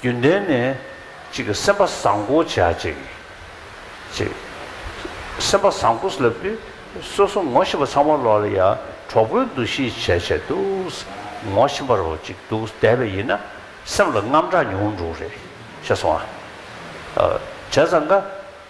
རྒྱུན་ལྡན་ནས། གཅིག་སེམས་པ་བཟང་པོ་བྱ་ཅིག། ཅེས། སེམས་པ་བཟང་པོ་ལབ་དུས་སོ་སོ་ངོ་ཤེས་པ་ཚང་མ་ལོག་ལ་ཡ་གྲོགས་པོའི་འདུ་ཤེས་བྱས་བྱས་འདུག་ངོ་ཤེས་པར་རོ་ཅིག་འདུག་བསྡད་པ་ཡིན་ན་སེམས་ལ་རྔམ་དྲག་མྱོང་འགྲོ་རེད་ཤེས་སོང་ཨ། བྱས་ཙང་དགའ།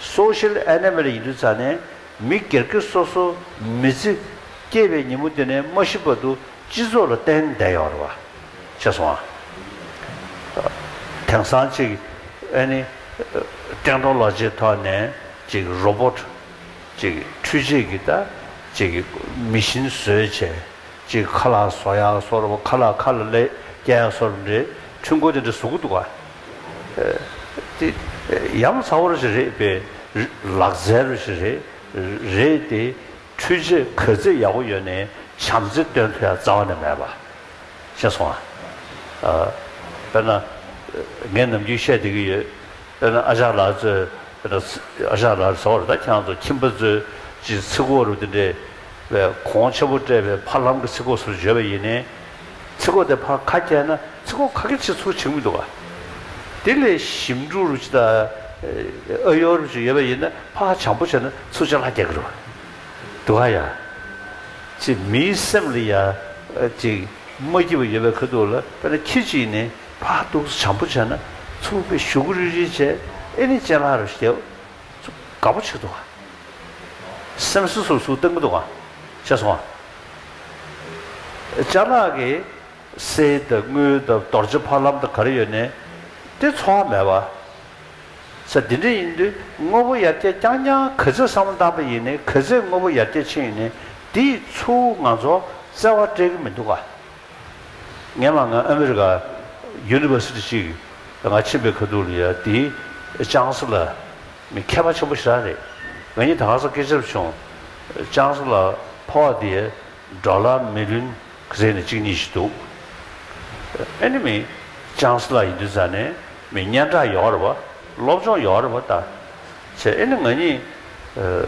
Social Animal ཡིན་དུས་ཚར་ནས་མི་སྒེར་སྒེར་སོ་སོ་མི་ཚེ་སྐྱེལ་པའི་ཉིན་མོ་དེ་ནས་མ་ཤི་བར་དུ་སྤྱི་ཚོགས་ལ་གཏན་བདེ་ཡོང་རེ་བ་བྱས་སོང་ཨ། དེང་སང་ཅིག་ཨ་ནི་ཀྲེང་ཀྲོང་ལགས་ཅེས་ཐོག་ནས་ཅིག Robot ཅིག་འཕྲུལ་ཆས་ཀྱིས་ད་ཅིག་མི་བཞིན་བཟོས་བྱས་ཅིག་ཁ་ལག་བཟོ་ཡག་སོར་ཁ་ལག་ཁ་ལ་ལས་སྐྱེལ་ཡག་སོར་འདྲེ་འཕྲུལ་འཁོར་དེ་འདྲ་བཟོ་གི་འདུག་ཨ། དེ་ཡམ་ཚ་བོར་ཞིག་རེད་པས། ལག་རྩལ་རུ་ཞིག་རེད། རེད་དེ། འཕྲུལ་ཆས་གོས་རྩེད་ཡག་པོ་ཡོད་ནས་བྱམས་བརྩེ་སྟོན་ཐུ་ཡ་རྩ་བ་ནས་མེད་པ། ཤེས་སོང་ང། དཔེར་ན། ངས་ནམ་རྒྱུན་བཤད་བསྡད་ཀྱི་ཡོད། དཔེར་ན་ཨ་ཞང་ལགས་གཙོས། དཔེར་ན། ཨ་ཞང་ལགས་ཟེར་བ་རེད་ད་ཁྱེད་རང་ཚོ་ཁྱིམ་པ་གཙོས། ཀྱི་ཚིག་གོ་རུ་དེ་འདྲས། བས་གོང་ཆེན་པོ་སྤྲད་པའི་ཕར་ལམ་གྱི་ཚིག་གོ་སོར་བརྗོད་པ་ཡིན་ནས། ཚིག་གོ་དེ་ཕར་ཁ་བསྐྱལ་ན་ཚིག་གོ་ཁ་སྐྱེལ་བྱེད་ཚུལ་བྱེད་མི་འདུག་ག་དེ་ལས་ཞིབ་འབྲུ་རུ་ཅི་དང་ཨོ་ཡོ་རུ་ཅི་ཡོད་པ་ཡིན་ན་ཕར་ཧ་བྱང་པོ་བྱས་ན་ཚུར་ལྕགས་ལྷ་བསྐྱལ་གི་རུ་འདུག་ག་ཡ། ཅི་མིའི་སེམས་ལ་ཡ་ཅིག་མ་སྐྱིད་པ་ཡོད་པའི་ཁ་འདུག་ལ་དཔེར་ན་ཁྱེད་ཅིག་ནས་ཕར་ཧ་གཏུགས་ཚུར་བྱང་པོ་བྱས་ན་ཚུར་དཔེ་བཞུ་གི་རུ་ཅི་བྱས་ཨེ་ནི་ལྕགས་ལྷ་རུ་བསྐྱལ་ཚུར་དགའ་པོ་བྱེད་འདུག་ག་སེམས་སུ་སུ་སུ་བཏང་གི་འདུག་ག་ཤེས་སོང་ང་ལྕགས་ནག་གི་སའི་འདབས་དངུལ་འདབས་རྡོ་རྗེ་ཕ་ལམ་དུ་གར་ཡོད་ནས་ཏེ་འཚོ་བ་མེད་པ། ས་འདི་འདྲ་ཡིན་དུས་དངོས་པོ་ཡར་རྒྱས་རྐྱང་རྐྱང་གི་ཚེ་བསམ་བློ་བཏང་པ་ཡིན་ནི་གི་ཚེ་དངོས་པོ་ཡར་རྒྱས་ཕྱིན་ཡོད་ནི་འདི་ཡི་ཚུ་བོ་ང་ཚོ་བརྩེ་བ་སྤྲད་གི་མི་འདུག་ག། ངས་མ་ང་ཨ་མི་རི་ཀ University ཅིག་ང་ཕྱིན་པའི་ཁ་ཐུག་ལ་ཡ་དེའི་ལྕང་སི་ལ། མི་མཁས་པ་ཆེན་པོ་ཞེ་དྲག་རེད། ང་གཉིས་ད་ག་ས་སྐད་ཆབ་བྱུང། ཅང་སུ་ལ་ཕོ་བ་དེ་འདྲ་ལ་མི་ལུན་ག་ཟེར་ནས་གཅིག་གཉིས་ཤིག་འདུག་ཨེ་ནི་མི་ཅང་སུ་ལ་ཡིན་དུས་ཟ་ནས་མི་སྙན་གྲགས་ཡོད་རེད་བ་སློབ་སྦྱོང་ཡོད་རེད་བ་ད་ཚེ་ཨེ་ནི་ང་གཉིས་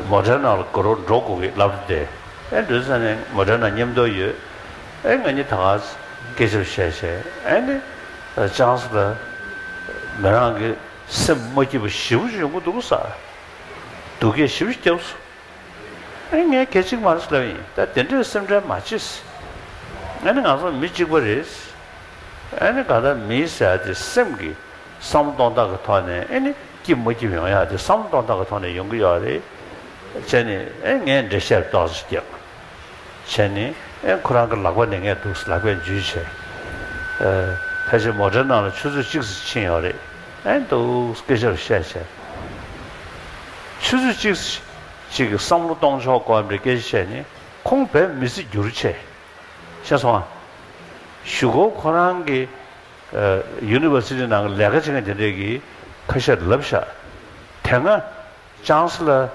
མོ་དྲེ་ནང་ལ་དགོད་རོགས་འགྲོ་དགོས་གི་ལབ་རེད་དེ་ཨེ་འདོད་ཟ་ནས་མོ་དྲེ་ནང་ཉེམ་རྡོ་ཡོད་ཨེ་ང་གཉིས་ད་ག་ས་སྐད་ཆབ་བཤད་བྱས་ཨེ་ནི་ཅང་སུ་ལ་མི་རང་གི་སེམས་མ་སྐྱིད་པ་བཞི་བོ་ཆུ་ཡོང་གི་འདུག་ཟ་འདུག་སྐད་བཞི་བོ་སྐྱབས་སུ་ཨེ་ངས་སྐད་ཅིག་མར་སླེབས་ཡིན་ད་དེ་འདྲའི་སེམས་ཁྲལ་མ་བྱེད་ཟེར་ཨེ་ནི་ང་ཚོ་མི་གཅིག་པ་རེད་ཟེར་ཨེ་ནི་ག་ད་མིའི་ཟེར་ཡག་དེ་སེམས་ཀྱི་བསམ་བློ་གཏོང་སྟངས་ཀྱི་ཐོག་ནས་ཨེ་ནི་སྐྱིད་མ་སྐྱིད་ཡོང་ཡག་དེ་བསམ་བློ་གཏོང་སྟངས་ཀྱི་ཐོག་ནས་ཡོང་གི་ཡོད་རེད་ཟེར་ནི་ཨེ་ངས་འགྲེལ་བཤད་རྡོག་རྫིས་རྒྱག། བྱས་ནི། ཨེ་ཁོ་རང་གི་ལག་པ་ནས་ངས་འདུག་ལག་པས་འཇུས་བྱས། ཨེ། ཕལ་ཆེར་མོ་དྲའི་ནང་ལ་ཆུ་ཚོད་གཅིག་ཟིག་ཕྱིན་ཡོང་རེད། ཨེ་འདུག་སྐད་ཆ་རུ་བཤད་བྱས། ཆུ་ཚོད་གཅིག་ཟིག་ཅིག་གི་བསམ་བློ་གཏོང་ཆོག་གོ་འདྲའི་སྐད་ཆ་བཤད་ནི། ཁོང་བེད་མི་སྲིད་རྒྱུར་བྱས། ཤེས་སོང་ཨ། ཞུ་གོ་ཁོ་རང་གི། ཨེ། University ནང་གི་ལས་ཀ་བྱེད་མཁན་དེ་འདྲས་ཀྱིས་ཁ་ཤས་ལབ་བཞག། དེ་སྔ། Chancellor།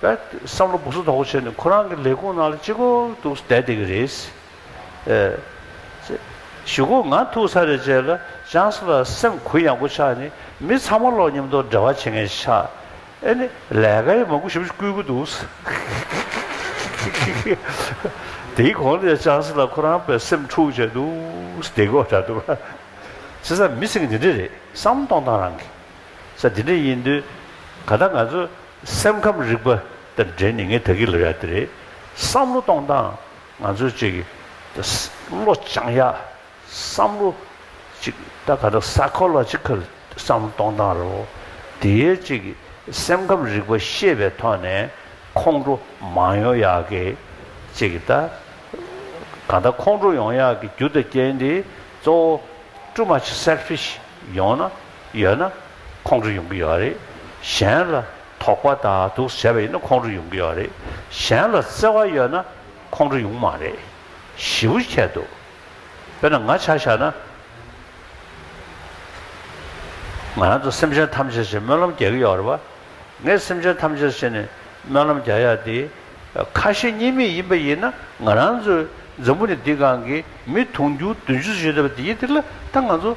བསམ་བློ་སྦུག་ས་དོག་པོ་བྱས་ནས་ཁོ་རང་གི་ལས་ཁུངས་ནང་ལ་ཅི་འཁོར་འདུག་བསྡད་བསྡད་ཀྱི་རེད། ཞུ་གོ་ང་ཐུག་ཚར་རེད་བྱས་ལ Chancellor སེམས་གུ་ཡངས་པོ་ཆགས་ནས་མི་ཚང་མ་ལོག་ཉམས་དོག་འདྲ་བ་བྱེད་མཁན་ཆགས། ཨེ་ནི་ལས་ཀ་ཡི་མ་གུ་ཞིབ་ཅིག་བསྐུལ་གི་འདུག། དེའི་གོང་ནས Chancellor ཁོ་རང་བས་སེམས་འཁྲུག་བྱས་འདུག་བསྡད་གོ་འདྲ་འདུག། བྱས་ཙང་མི་ཚིག་འདི་འདྲ་རེད་བསམ་གཏོང་སྟངས་རང་གི། ས་དེ་འདྲ་ཡིན་དུས། ད་ལྟ་ང་ཚོ་སེམས་ཁམས་རིག་པ་དང་འབྲེལ་ནས་ངས་ད་གི་ལོ་ཡག་འདི་རེད་བསམ་བློ་གཏོང་སྟངས་ང་ཚོ་ཅིག་བློ་སྦྱང་ཡག་བསམ་བློ་ཅིག་ད་ག་དག Psychological བསམ་བློ་གཏོང་སྟངས་རེད་བོ། དེའི་ཅིག་སེམས་ཁམས་རིག་པ་ཤེས་པའི་ཐོག་ནས་ཁོང་ཁྲོ་མ་ཡོང་ཡག་གི་ཅིག་ད་ག་དག་ཁོང་ཁྲོ་ཡོང་ཡག་གི་རྒྱུ་དང་རྐྱེན་དེ་གཙོ་བོ Too much selfish ཡོང་ན། ཡོད་ན་ཁོང་ཁྲོ་ཡོང་གི་ཡོད་རེད། གཞན་ལ་དོགས་པ་དང་སྡུག་བསལ་བ་ཡོད་ན་ཁོང་ཁྲོ་ཡོང་གི་ཡོད་རེད། གཞན་ལ་བརྩེ་བ་ཡོད་ན་ཁོང་ཁྲོ་ཡོང་མ་རེད། ཞི་བོ་ཁྱད་དུ་འཕེལ་ན་ང་ཆ་བཞག་ན། ང་རང་ཚོ་སེམས་ཅན་ཐམས་ཅད་ཞེས་སྨོན་ལམ་རྒྱག་གི་ཡོད་རེད་བ། ངས་སེམས་ཅན་ཐམས་ཅད་ཞེས་ནས་སྨོན་ལམ་རྒྱག་ཡ་དེ་ཁ་ཞེ་གཉིས་མེད་ཡིན་པ་ཡིན་ན་ང་རང་ཚོའི་འཛམ་བུ་ནི་འདི་གང་གི་མི་དུང་ཕྱུར་བདུན་ཅུ་བཞི་ཡོད་པ་དེའི་སྟེང་ལ་ད་ང་ཚོ་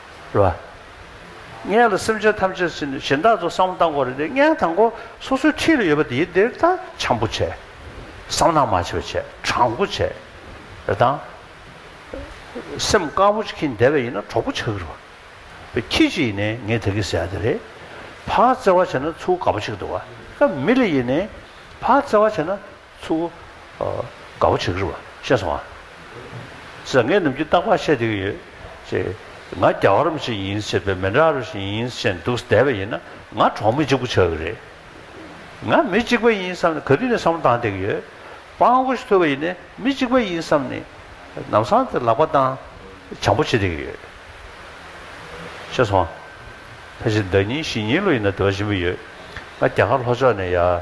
རེད་བ། ངས་ལ་སེམས་ཅན་ཐམས་ཅད་སྲིད་ནས་གཞན་དག་ཚོ་བསམ་བློ་བཏང་གོ་རེད་དེ་ངས་དང་པོ་སོ་སོའི་འཁྲིས་ལ་ཡོད་པ་དེའི་འདིར་ད་བྱམས་པོ་བྱས། བསམ་སྣང་མ་བྱས་པ་བྱས་དྲང་པོ་བྱས། རེད་དང། སེམས་དཀར་པོ་ཁྱི་འདེད་པ་ཡིན་ན་གྲོགས་པོ་ཆགས་ཀྱི་རེད་བ། བའི་ཁྱི་ཞིག་ཡིན་ནས་ངས་དེ་གི་ཟེར་ཡ་དེ་རེད། ཕ་བརྩེ་བ་བྱས་ན་ཚུར་དགའ་པོ་ཆགས་ཀྱི་རེད་བ། མི་ལ་ཡིན་ནས་ཕ་བརྩེ་བ་བྱས་ན། ཚུར་བོ། དགའ་བོ་བྱེད་ཀྱི་རེད། ཤེས་སོང་ཨ། ཟེར་ངས་ནམ་རྒྱུན་རྟག་པར་བཤད་དེ་ཡོད། ཅེས། ང་རྒྱ་གར་མི་ཞིག་ཡིན་ཟེར་བས་མི་འདྲ་བར་ཞིག་ཡིན་བཤད་འདུག་བསྡད་པ་ཡིན་ན་ང་གྲོགས་མི་གཅིག་པུ་ཆགས་ཀྱི་རེད། ང་མི་གཅིག་པ་ཡིན་བསམ་ནས་ག་དུས་ནས་བསམ་བློ་བཏང་བསྡད་ཀྱི་ཡོད། དཔང་བོ་ཞིག་ཐོས་པ་ཡིན་ནས་མི་གཅིག་པ་ཡིན་བསམ་ནས་ནམ་སང་དེར་ལག་པ་བཏང། བྱམས་པོ་བྱེད་བསྡད་ཀྱི་ཡོད། ཤེས་སོང་ཨ། ཕལ་ཆེར་ཟླ་གཉིས་བཞི་གཉིས་ལོ་ཡིན་ན་དེ་བ་བཞིན་པོ་ཡོད། ང་རྒྱ་གར་ལྷོ་ཕྱོགས་ནས་ཡར།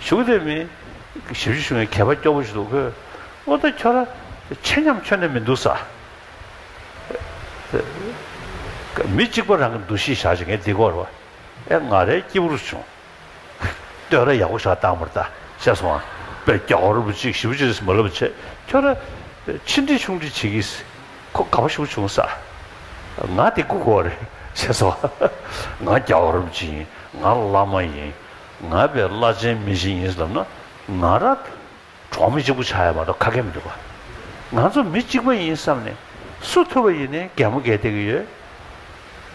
གཞུང་དེ་མི། ཞིབ་བཤེར་གཞུང་ཡང་གད་པ་སྐྱོ་པོ་ཞིག་འདུག་གོ། ཨོ་ད་ཁྱོད་ར། ཆེ་མཉམ་ཁྱོད་ནས་མི་འདུག་ས། མི་གཅིག་པ་རང་གི་འདུ་ཤེས་བཞག་ཅིག་ངས་འདི་གོ་ར། ཨེ་ང་རའི་སྐྱིད་པོ་རུ་བྱུང། སྟོད་ར་ཡག་པོ་བཞག་སྟངས་མར་ལྟ། བཤད་སོང་ཨ། པས་རྒྱ་གོ་ར་བུ་གཅིག་ཞིབ་བཤེར་ཞིག་མ་ལབ་ཆེད་ཁྱོད་ར། ཕྱི་འདྲི་ཆུང་འདྲི་བྱེད་ཀྱི། ཁོ་ག་པ་ཞིག་པོ་བྱུང་ས། ང་འདི་གོ་གོ་ར། བཤད་སོང་ཨ། ང་རྒྱ་གོ་ར་བུ་གཅིག་ཡིན་ང་བླ་མ་ཡིན། ང་བས་བླ་ཆེན་མི་ཞིག་ཡིན་ཟེར་ན་ང་རང་གྲོགས་མི་གཅིག་པུ་ཆགས་ཡོད་པ་འདྲ་ཁ་སྐད་མི་འདུག་པ། ང་ཚོ་མི་གཅིག་པ་ཡིན་བསམ་ནས་སུ་ཐུབ་པ་ཡིན་ནས་གད་མོ་གད་དེ་གི་ཡོད།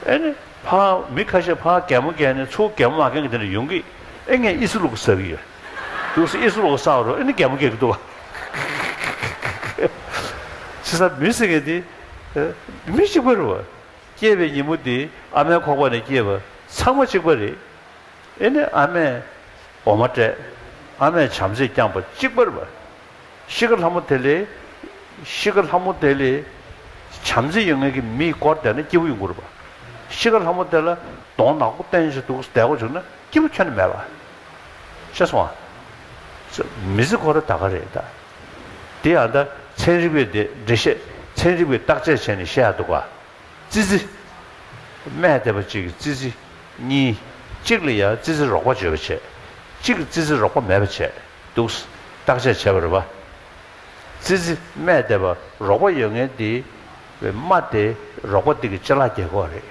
ཨེ་ནི་ཕ་མི་ཁ་ཤས་ཕ་གད་མོ་གད་ནས་ཚུར་གད་མོ་མ་གན་གི་དེ་འདྲ་ཡོང་གི་ཨེ་ངས་ཨི་སུ་ལུག་ཟ་གི་ཡོད། ལུག་ཟ་ཨི་སུ་ལུག་ཟ་བ་རུ་ཨེ་ནི་གད་མོ་གད་གི་འདུག་པ། ཁིག་ཁིག་ཁིག། བྱས་ཙང་མི་ཟེར་མཁན་དེ་མི་གཅིག་པ་རུ། སྐྱེས་པའི་ཉིན་མོ་དེ་ཨ་མའི་ཁོག་པ་ནས་སྐྱེས་པ་ཚང་མ་གཅིག་པ་རེད། ཨེ་ནི་ཨ་མས་འོ་མ་སྤྲད། ཨ་མས་བྱམས་བརྩེས་བསྐྱངས་པ་གཅིག་པར་བས། ཤི་ཀ་ལྷ་མོ་དེ་ལས། ཤི་ཀ་ལྷ་མོ་དེ་ལས། བྱམས་བརྩེ་ཡོད་ངེས་ཀྱི་མིས་བསྐོར་བསྡད་ན་སྐྱེ་བོ་ཡོད་མགུར་བ། ཤི་ཀ་ལྷ་མོ་དེ་ལ་གདོང་ནག་པོ་བསྟན་བཞིན་འདུག་བསྡད་གོ་བྱུང་ན་སྐྱེ་བོ་ཁྱོད་ནི་མེད་པ། ཤ་སོང་ཨ། མི་ཟི་ཁོ་ར་ད་ག་རེད་ད། དེ་ཡང་ད་ཚན་རིག་པས་འགྲེལ་བཤད་ཚན་རིག་པས་བརྟག་དཔྱད་བྱས་ནས་བཤད་ཡག་འདུག་ག། ཙི་ཙི། སྨད་ལྟེ་བ་གཅིག་གིས་ཙི་ཙི། གཉིས། གཅིག་ལ་ཡང་ཙི་ཙི་རོགས་པ་བརྗོད་པར་བྱེད། གཅིག་གིས་ཙི་ཙི་རོགས་པ་མེད་པར་བྱེད། འདུག། བརྟག་དཔྱད་བྱེད་པར་བ། ཙི་ཙི། སྨད་ལྟེ་བ། རོགས་པ་ཡོད་ངེས་འདི། སྨྲ་སྟེ། རོགས་པ་འདི་གི་ལྕེ་ལག་སྒྱེད་ཁོག་རེད།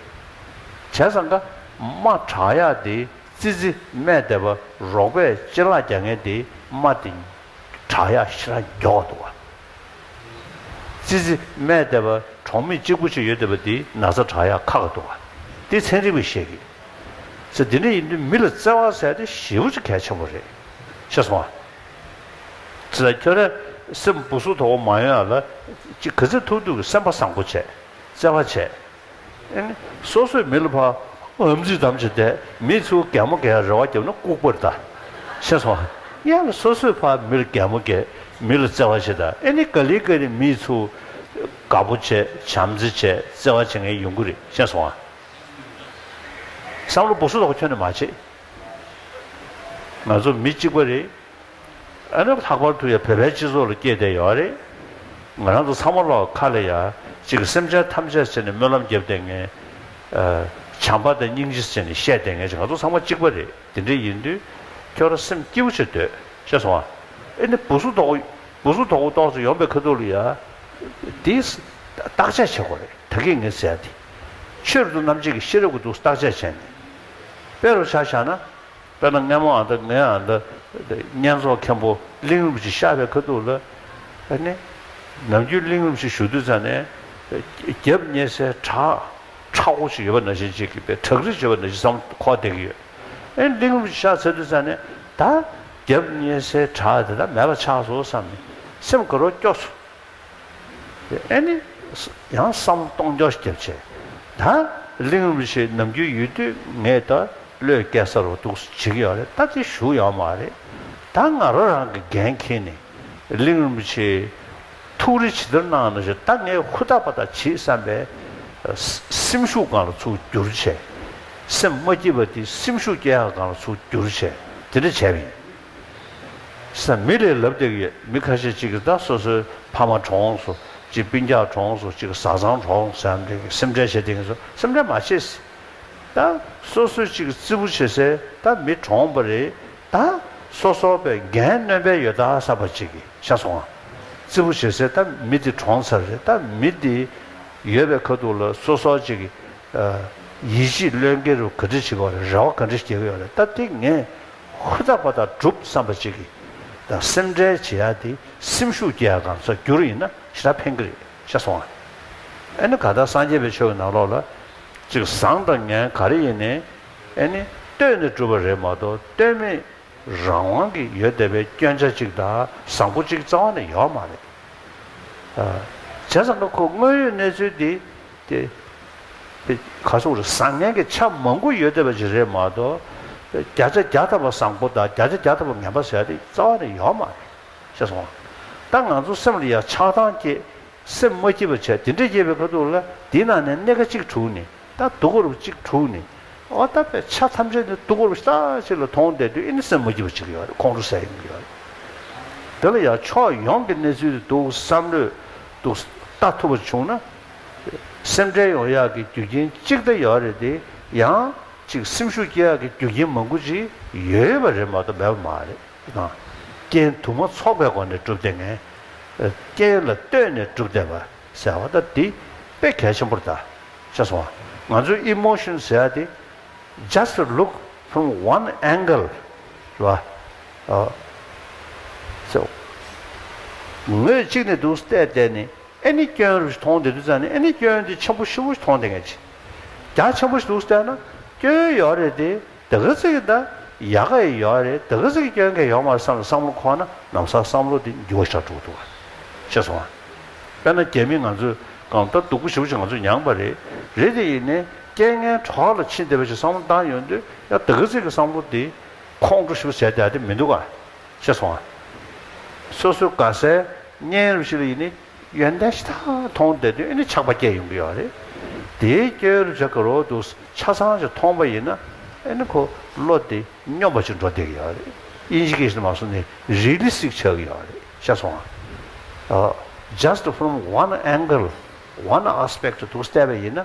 བྱས་ཙང་ཀ། སྨྲ། བྲག་ཡག་འདི། ཙི་ཙི། སྨད་ལྟེ་བ། རོགས་པས་ལྕེ་ལག་རྒྱག་ངེས་འདི། སྨྲ་སྟེ། བྲག་ཡག་ཤི་ར་མགྱོགས་འདུག། ཙི་ཙི། སྨད་བསྡད་པ། གྲོང་མི་གཅིག་པོ་ཅིག་ཡོད་བསྡད་པ་དེའི་ན་བཟའ་བྲག་ཡ་ཁ་ཁ་འདུག་ག་དེ་ཚན་རིག་པས་བཤད་གི། ཚེ་འདི་འདྲ་ཡིན་དུས་མི་ལ་བརྩེ་བ་ཟེར་ཏེ་ཞེ་བོ་ཅིག་གལ་ཆེན་པོ་རེད། ཤེས་སོང་ང། ཙི་ཙི། ཁྱོད་རང་སེམས་སྦུག་སུག་དོག་པོ་མ་ཡོང་ཡ་ལ། ཅིག་གི་ཚེ་ཐུག་ཐུག་གི་སེམས་པ་བཟང་པོ་བྱས། བརྩེ་བ་བྱས། སོ་སོའི་མི་ལ་བར་འམ་ཚིག་དམ་ཅི་བདེ། མི་ཚོས་གད་མོ་གད་རེ་བ་བརྒྱབ་ན་ལྐུགས་པར་གདའ། ཤེས་སོང། ཡང་ལ་སོ་སོའི་བར་མི་ལ་གད་མོ་གད། མི་ལ་བརྩེ་བ་བྱེད་ད་ཨེ་ནི་ག་ལི་ག་རི་མི་ཚོས། དགའ་པོ་བྱེད་བྱམས་བརྩེ་བྱེད་བརྩེ་བ་བྱེད་ངའི་ཡོང་གི་རེད་ཤེས་སོང། བསམ་བློ་སྦུག་སུ་དོག་ཁྱོད་ནི་མ་བྱེད། ང་ཚོ་མི་གཅིག་པ་རེད། ཨ་ནུ་ལྷག་པར་དུ་ཡང་བོད་པའི་སྤྱི་ཚོགས་ལ་སྐྱེས་བསྡད་ཡོད་རེད། ང་རང་ཚོ་ཚང་མ་ལོག་ཁ་ལ་ཡ་གཅིག་གི་སེམས་ཅན་ཐམས་ཅད་ཟེར་ནས་སྨོན་ལམ་བརྒྱབ་བསྡད་ངེས། བྱམས་པ་དང་སྙིང་རྗེ་ཟེར་ནས་བཤད་བསྡད་ངེས་ཀྱི་ང་ཚོ་ཚང་མ་གཅིག་པ་རེད་དེ་འདྲ་ཡིན་དུས་ཁྱོད་རང་སེམས་སྐྱིད་པོ་བྱེད་འདོད་ཤེས་སོང་ཨ། ཨེ་ནི་བུ་གཟུགས་དོག་བུ་གཟུགས་དོག་པོ་ཏོག་ཙེ་ཡོང་པའི་ཁ་ཐུག་ལ་ཡ། དེ་བརྟག་དཔྱད་བྱེད་དགོས་རེད་ད་གིས་ངས་ཟེར་དེ། ཆོས་རིག་དུ་རྣམ་འབྱེད་ཀྱི་ཤེས་རབ་ཀྱི་འདུག་བརྟག་དཔྱད་བྱས་ནས་སྤེལ་རོགས་བྱ་བཞག་ན། དཔེར་ན་སྔས་མོ་ཨ་མདའ་མི་ཨ་མདའབསྙེན་རྫོང་མཁན་པོ་གླིང་རུམ་གྱི་ཤག་པའི་ཁ་ཐུག་ལ། ནི། ནམ་རྒྱུན་གླིང་རུམ་ཞིག་ཞུ་དུས་ཚང་ནས། རྒྱབ་བསྙེས་སའི་བྲག་ཁྲ་བོ་ཞིག་ཡོད་པ་ན་བཞིན་གཅིག་གིས་པའི་བྲག་རི་ཞེས་པ་ན་བཞིན་བསམ་བློ་ཁོག་བསྡད་ཀྱི་ཡོད། ཨེ་གླིང་རུམ་གྱི་ཤག་འཚལ་དུས་ཚང་ནས། ད། རྒྱབ་བསྙེས་སའི་བྲག་དེ་དག་མེད་པ་ཆགས་སོ་བསམ་ནས་སེམས་དགའ་རོགས་སྐྱོ་སོ། ཨེ་ནི། ཡང་བསམ་སྟོང་རྒྱ་སྐྱེད་བྱས། ད་གླིང་རུ་ཤའི་ནམ་རྒྱུན་ཡོད་དུས་ངས་ད་ལོའི་སྐལ་གསར་བ་འདུག་སུ་བྱེད་ཀྱི་ཡོད་རེད་ད་དེ་ཞུ་ཡག་མ་རེད། ད་ང་རོ་རང་གི་འགན་འཁྱེར་ནས་གླིང་རུ་ཤའི་ཐུགས་རེ་ཇི་ལྟར་གནང་ན་ཞུ་ད་ངས་ཧུར་ཐག་པ་ཐག་བྱེད་བསམ་པའི་སེམས་ཤུགས་གང་ལ་ཚུགས་རྒྱུར་བྱས། སེམས་མ་སྐྱིད་པ་དེ་སེམས་ཤུགས་སྐྱེད་ཡག་གང་ལ་ཚུགས་རྒྱུར་བྱས་དེ་འདྲ་བྱས་པ་ཡིན། ས་མི་རེ་ལབ་བཏེགས་ཡོད་མི་ཁ་ཤས་གཅིག་གིས་ད་སོ་སོའི་ཕ་མ་གྲོངས་སོ་གཅིག་སྤུན་རྒྱག་གྲོངས་སོ་གཅིག་བཟའ་ཚང་གྲོངས་སོ་ཡང་འདྲེ་སེམས་ཁྲལ་བྱེད་བཏེགས་ཡིན་སོ་སེམས་ཁྲལ་མ་བྱེད་སེ་ད་སོ་སོའི་གཅིག་བརྩི་བུ་བྱེད་སེ་ད་མི་གྲོངས་པ་རེད་ད་སོ་སོ་བས་འགན་གནོན་པའི་ཡོད་ད་ས་པ་གཅིག་གིས་ཤ་ཟུང་ང་བརྩི་བུ་བྱེད་སེ་ད་མི་དེ་གྲོངས་ཚར་རེད་ད་མི་དེ་ཡོད་པའི་ཁ་ཐུག་ལ་སོ་སོ་གཅིག་གིས་ཡིད་ཆེས་བློས་འགེལ་རུ་ག་འདྲི་བྱེད་པར་རེ་བ་ག་འདྲི་སྐྱེ་གི་ཡོད་རེད་ད་དེ་ངས་ཧུར་ཐག་པ་དང་སྒྲུབ་བསམ་པ་ཅིག་གིས་དང་སེམས་ཁྲལ་བྱེད་ཡ་དེ་སེམས་ཤུགས་སྐྱེ་ཡ་གང་ས་རྒྱུར་ཡིན་ན་ཞེ་དྲག་ཕན་གི་རེད་ཤ་སོང་ང་ཨེ་ནི་ག་ལྟར་སངས་རྒྱས་པའི་ཆོས་ཀྱི་ནང་ལོགས་ལ་ཅིག་བཟང་དང་ངན་ག་རེ་ཡིན་ནི་ཨེ་ནི་ལྟོས་ནས་སྒྲུབ་པ་རེད་མ་གཏོགས་ལྟོས་མེད་རང་དབང་གི་ཡོད་བསྡད་པའི་སྐྱོན་ཆ་ཅིག་དང་བཟང་པོ་ཅིག་རྩ་བ་ནས་ཡོད་མ་རེད། བྱས་ཙང་ང་ཁོ་དངོས་ཡོད་གནས་ཚུལ་དེ། ཏེ། དཔེ་ག་ཚོགས་རེད་བཟང་ངན་གྱི་ཆ་མང་པོ་ཡོད་བསྡད་པ་ཞིག་རེད་མ་གཏོགས། བརྒྱ་ཆ་བརྒྱ་ཐ་བ་བཟང་པོ་དང་བརྒྱ་ཆ་བརྒྱ་ཐ་བ་ངན་པ་ཟེར་ཡ་དེ་རྩ་བ་ནས་ཡོད་མ་རེད། ཤེས་སོང། ད་ང་ཚོ་སེམས་ལ་ཡང་ཆགས་སྡང་སྐྱེས། སེམས་མ་སྐྱིད་པ་བྱས་དེ་འདྲ་སྐྱེས་པའི་ཁ་ཐུག་ལ་དེའི་ནང་ནས་སྣེ་ཁ་གཅིག་དྲུག་ནི་ད་སྡུག་གོར་བ་གཅིག་དྲུག་ནི། འོ་ད་དཔེ་ཆ་ཐམས་ཅད་ནི་སྡུག་གོར་བ་ཞིག་ལྟ་ཞིག་ལ་མཐོང་བསྡད་དུས་ཨེ་ནི་སེམས་མ་སྐྱིད་པ་ཅིག་ཡོད་རེད་ཁོང་ཁྲོ་ཟེར་ཡིན་གྱི་ཡོད་རེད། དེ་ལ་ཡང་ཕྱོགས་ཡོངས་ཀྱི་གནས་ཚུལ་དེ་འདུག་བསམ་ལོས་འདུག་ལྟ་ཐུབ་པ་བྱུང་ན་སེམས་ཁྲལ་ཡོང་ཡག་གི་རྒྱུ་རྐྱེན་གཅིག་ད་ཡོད་རེད་དེ་ཡང། གཅིག་སེམས་ཤུགས་སྐྱེ་ཡག་གི་རྒྱུ་རྐྱེན་མང་པོ་ཅིག་ཡོད་པ་རེད་མ་གཏོགས་མེད་པ་མ་རེད། རྐྱེན་དུ་མ་ཚོགས་པའི་སྒོ་ནས་སྒྲུབ་བདེ་ངེས། རྐྱེན་ལ་ལྟོས་ནས་སྒྲུབ་བདེ་བ་ཟེར་བ་ད་འདི་དཔེ་གལ་ཆེན་པོར་གདའ། ཤེས་སོང་ང་ཚོས emotion ཟེར་དེ just look from one angle རེད་བ། ངོས་གཅིག་ནས་འདུག་བལྟས་བལྟས་ནས་ཨེ་ནི་སྐྱོན་རུ་ཞིག་མཐོང་བདེ་འདུག་ཙང་ནི་ཨེ་ནི་སྐྱོན་དེ་ཆེན་པོ་ཧྲིལ་བོ་ཞིག་མཐོང་བདེ་མཁན་ཆེ། རྒྱ་ཆེན་པོ་ཞིག་འདུག་ཟེར་ན། སྐྱོན་ཡོད་རེད་དེ། དེ་ག་ཚིག་གི་ད། ཡག་ག་ཡི་ཡོད་རེད་དེ་ག་ཚིག་གི་སྐྱོན་ག་ཡོད་མ་རེད་བསམ་ལ་བསམ་བློ་འཁོར་ན་ནམ་ཟག་བསམ་བློ་དེ་འགྱུ་བ་ཞག་དྲུག་འདུག་ག། ཤེས་སོང་ཨ། དཔེར་ན་རྒྱ་མི་ང་ཚོས་གང་ལྟར་སྡུག་པོ་ཞི་བོ་ཞིག་ང་ཚོས་མྱངས་པ་རེད། རེད་དེ་ཡིན་ནའི། རྐྱེན་ངན་གྲོགས་ལ་ཕྱིན་བདེ་བ་ཞིག་བསམ་བློ་བཏང་ཡོད་འདོད་ཡ་དེ་ག་ཚིག་གི་བསམ་བློ་དེ། ཁོང་ཁྲོ་ཞི་བོ་ཟེར་དེ་ཨ་དེ་མི་འདུག་ག། ཤེས་སོང་ཨ། སོ་སོའི་དགའ་སའི། བརྙན་རིས་ཤིག་ལ་ཡིན་ནི་ཡོན་ཏན་ཤ་སྟག་མཐོང་བསྡད་དོན་ཨེ་ནི་ཆགས་པ་སྐྱེས་ཡོང་གི་ཡོད་རེད། དེའི་སྐྱོན་རེད་ཆགས་ཀྱི་རོ་འདུག་ཆ་ཚང་ཞིག་མཐོང་པ་ཡིན་ན་ཨེ་ནི་ཁོ་བློ་དེ་སྙོམས་པ་ཅིག་འགྲོ་བསྡད་ཀྱི་ཡོད་རེད་དབྱིན་ཇི་ཀས་ཤིན་ཏུ་མ་སོང་ནས་རིས་ལི་སིག་ཆགས་ཀྱི་ཡོད་རེད་ཤ་སོང་ང། Just from one angle one aspect དུ་བལྟས་པ་ཡིན་ན།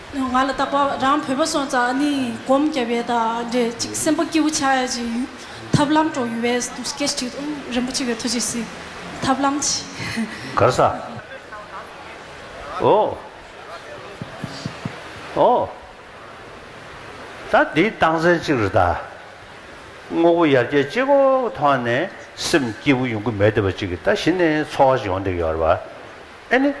ང་ལ་བཏགས་པ་རང་བོད་པ་སོང་ཙང་ནི་སྒོམ་རྒྱབ་ཡས་ད་འདྲས་ཅིག་སེམས་པ་སྐྱིད་བོ་ཆགས་ཡས་ཅིག་ཡུལ་ཐབས་ལམ་འགྲོ་ཡུལ་བས་དུ་སྐད་ཅིག་ཨུ་རིན་པོ་ཆེ་བས་ཐུགས་རྗེ་གཟིགས། ཐབས་ལམ་གྱིས། གར་ས། ཨོ། ཨོ། ད་འདི་བཏང་ཚན་གཅིག་རེད་ད། དངོས་པོ་ཡར་རྒྱས་ཅི་གོ་མཐོང་ནས་སེམས་སྐྱིད་པོ་ཡོང་གི་མེད་བདེ་བ་ཅིག་གིས་ད་གཞི་ནས་འཚོ་བ་ཞིག་ཡོང་བསྡད་ཡོད་རེད་བ། ཨེ་ནི།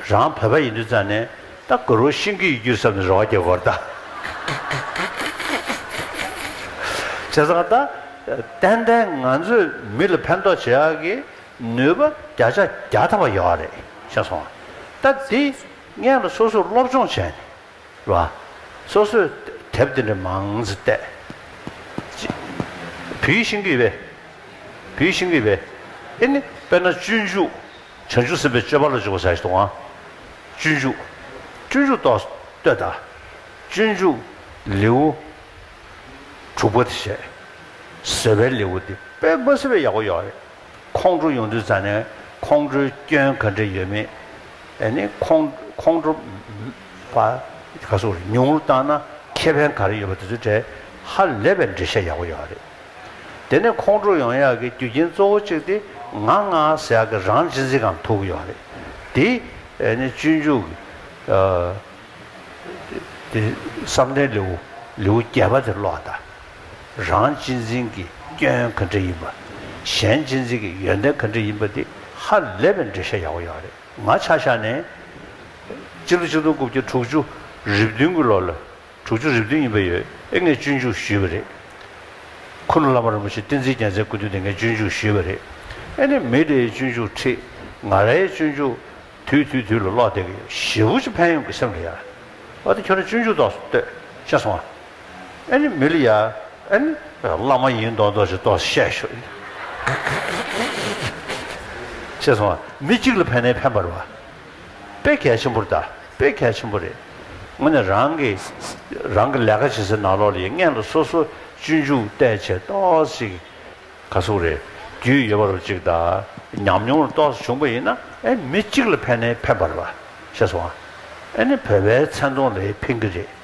རང་བོད་པ་ཡིན་དུས་ཙང་ནས་ད་གུ་རུ་ཤིང་གི་ཡིག་རྒྱུད་བསམ་ནས་རོགས་བརྒྱག་གོ་ད། བྱས་ཙང་ད། ཏན་ཏན་ང་ཚོས་མི་ལ་ཕན་ཐོགས་བྱེད་ཡག་གི་ནུས་པ་བརྒྱ་ཆ་བརྒྱ་ཐ་བ་ཡོད་རེད་ཤེས་སོང་ང། ད་འདི་ངས་ལ་སོ་སོས་སློབ་སྦྱོང་བྱས་ནས་ལ། སོ་སོས་དེབ་འདི་འདྲ་མང་ཙི་བལྟས། བུའི་ཤིང་གི་བས། བུའི་ཤིང་གི་བས། ཨེ་ནི་དཔེར་ན་སྤྱོད་འཇུག་བྱང་ཆུབ་སེམས་དཔའི་སྤྱོད་པ་ལ་འཇུག་པར་བྱ་ཞིང་དོང་བ། སྤྱོད་འཇུག། སྤྱོད་འཇུག་ཏོ། ལྟོས་དང། སྤྱོད་འཇུག། ལེའུ། དྲུག་པ་དེ་བྱས། ཟེར་བའི་ལེའུ་འདི་དཔལ་དགོན་ཟེར་བའི་ཡག་པོ་ཡོད་རེད། ཁོང་ཁྲོ་ཡོང་དུས་ཚང་ནས་ཁོང་ཁྲོའི་སྐྱོན་ག་འདྲས་ཡོད་མེད། ཨེ་ནི་ཁོང། ཁོང་ཁྲོ། པ། ག་སོགས་རེད་ཉུང་ངུར་བཏང་ན་ཁེ་ཕན་ག་རེ་ཡོད་པ་དེ་ཚོའི་གྲས་ཧ་ལས་པའི་འགྲེལ་བཤད་ཡག་པོ་ཡོད་རེད། དེ་ནས་ཁོང་ཁྲོ་ཡོང་ཡག་གི་རྒྱུ་རྐྱེན་གཙོ་བོ་གཅིག་དེ་ང་ང་ཟེར་ཡག་གི་རང་གཅེས་འཛིན་ཁང་ཐུག་ཡོད་རེད། དེ་ནས་སྤྱོད་འཇུག་གི་དེ་བསམ་གཏན་ལེའུ་ལེའུ་བརྒྱད་པ་དེ་ཀློག་ད། རང་གཅེས་འཛིན་གྱི་སྐྱོན་ག་འདྲ་ཡིན་པ། གཞན་གཅེས་འཛིན་གྱི་ཡོན་ཏན་ག་འདྲ་ཡིན་པ་དེ་ཧ་ལས་པའི་འགྲེལ་བཤད་ཡག་པོ་ཡོད་རེད་ང་ཆ་ཤ་ནས། སྤྱི་ལོ་ཆིག་སྟོང་དགུ་བརྒྱ་དྲུག་ཅུ་རེབ་བདུན་གྱི་ལོ་ལ་དྲུག་ཅུ་རེ་བདུན་ཡིན་པ་ཡོད་ཨེ་ངས་སྤྱོད་འཇུག་ཞུས་པ་རེད། ཁུ་ནུ་བླ་མ་རིན་པོ་ཆེ་བསྟན་འཛིན་རྒྱལ་མཚན་སྐུ་མདུན་དེ་ངས་སྤྱོད་འཇུག་ཞུས་པ་རེད། ཨེ་ནས་མི་དེའི་སྤྱོད་འཇུག་ཁྲིད། ང་རའི་སྤྱོད་འཇུག། དུས་དུས་དུས་ལ་ཀློག་བསྡད་ཀྱི་ཡོད་ཞེ་བུ་ཅི་ཕན་ཡོང་གི་སེམས་ལ་ཡ། ཨ་ཏི་ཁྱོད་རང་སྤྱོད་འཇུག་རྟོགས་སོ་ལྟོས། ཤེས་སོང་ཨ། ཨེ་ནས་མི་ལ་ཡ། ཨེ་ནས། བླ་མ་ཡིན་མདོག་མདོག་ཅིག་རྟོགས་སོ་བཤད་ཞོར་ཨེ། ཤེས་སོང་ཨ། མི་གཅིག་ལ་ཕན་ནའི་ཕན་པར་བ། དཔེ་གལ་ཆེན་པོར་གདའ། དཔེ་གལ་ཆེན་པོ་རེད། ངོས་ནས་རང་གི། རང་གི་ལས་ཀ་བྱེད་སའི་ནང་ལོགས་ལ་ཡི་མངན་ལ་སོ་སོ་སྤྱོད་འཇུག་བལྟས་བྱས་རྟོགས་ཤིག། ག་གཟུགས་རེད། རྒྱུས་ཡོད་པ་རུ་གཅིག་གདའ། ཉམས་མྱོང་རུ་རྟོགས་སུ་བྱུང་པ་ཡིན་ན་ཨེ་མི་གཅིག་ལ་ཕན་ནའི་ཕན་པར་བ། ཤེས་སོང། ཨེ་ནི་བོད་པའི་མཚན་མཐོང་ལས་ཕན་གི་རེད།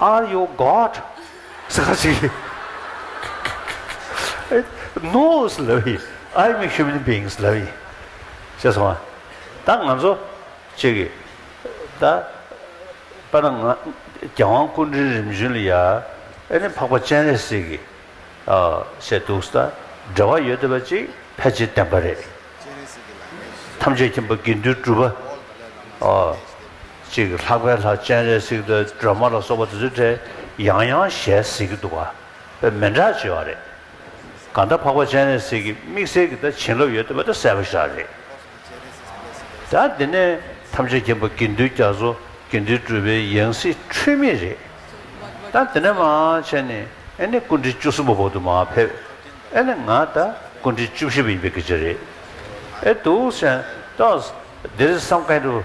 Are you God? ཟེར་ག་ཟེར་གི། No ཟེར་ལབ་ཡི། I am a human being ཟེར་ལབ་ཡི། ཤེས་སོང་ང། ད་ང་ཚོ་གཅིག་གི། ད་པ་ན་ང་རྒྱལ་དབང་སྐུ་མགྲོན་རིམ་བྱོན་ལ་ཡ། ཨེ་ནི་འཕགས་པ་སྤྱན་རས་གཟིགས་ཀྱི། བཤད་འདུག་ཟེར་ད་འབྲེལ་བ་ཡོད་དོད་པ་ཅིག་ཕལ་ཆེར་བསྟན་པ་རེད། ཐམས་ཅད་མཁྱེན་པ་དགེ་འདུན་གྲུབ་པ། ཅིག་ལྷག་པའི་ལྷ་སྤྱན་རས་གཟིགས་དང་སྒྲོལ་མ་ལ་སོགས་པ་དེ་ཚོའི་གྲས་ཡང་ཡང་ཞལ་གཟིགས་ཀྱི་འདུག་པ་མན་གྲགས་ཆེ་བ་རེད། གང་ལྟར་འཕགས་པ་སྤྱན་རས་གཟིགས་ཀྱི་དམིགས་བསལ་གྱི་ད་བྱིན་རླབས་ཡོད་འདུག་པ་དེ་གསལ་པོ་ཤག་རེད། ད་འདི་ནས་ཐམས་ཅད་མཁྱེན་པ་དགེ་འདུན་རྒྱ་མཚོ་དགེ་འདུན་གྲུབ་པའི་ཡང་སྲིད་འཁྲུལ་མེད་རེད། ད་འདི་ནས་མ་བྱས་ནས་ཨེ་ནི་སྐུ་འཕྲེང་བཅུ་གསུམ་པ་བོག་ཏུ་མ་ཕེབས་ཨེ་ནི་ང་ད་སྐུ་འཕྲེང་བཅུ་བཞི་པ་ཡིན་པའི་སྐད་ཆ་རེད་ཨེ་འདུག་སེམས་ཏོག། འདིར་བསམ་ག་ཡིན་འགྲོ།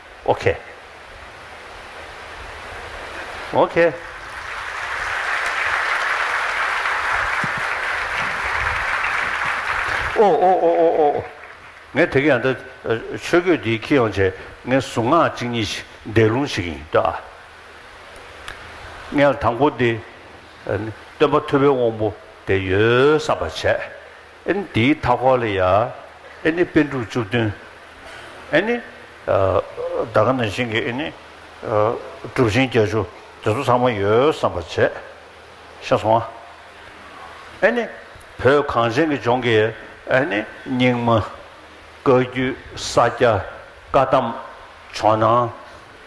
ཨོ་གྷེ། ཨོ་གྷེ། ཨོ་ཨོ་ཨོ་ཨོ་ཨོ་ཨོ། ངས་དེ་གི་ཡང་ད་ཆོས་གོས་འདི་ཁྱི་ཡོང་བྱས་ངའི་གཟུངས་སྔགས་གཅིག་གཉིས་ཤིག་འདས་ལུང་ཞིག་ཡིན་ཏོ་ཨ། ངས་དང་པོ་འདི། སྟོན་པ་ཐུ་བོའི་དབང་པོ་དེ་ཡོད་བསམ་པ་བྱས། ཨེ་ནི་དེའི་མཐའ་འཁོར་ལ་ཡ། ཨེ་ནི་པད་འབྲུག་བཅུ་བདུན། ཨེ་ནི། འདའ་ཀ་ནི་ཤིང་གི་ཨེ་ནི། གྲུབ་ཆེན་བརྒྱད་ཅུ་དེ་ཚོ་ཚང་མ་ཡོད་བསམ་པར་བྱས། ཤ་སོང་ཨ། ཨེ་ནི། བོད་གངས་ཅན་གྱི་ལྗོངས་ཀྱི་ཨེ་ནི་སྙིགས་མ། བཀའ་རྒྱུད་ས་སྐྱ་བཀའ་གདམས་ཇོ་ནང་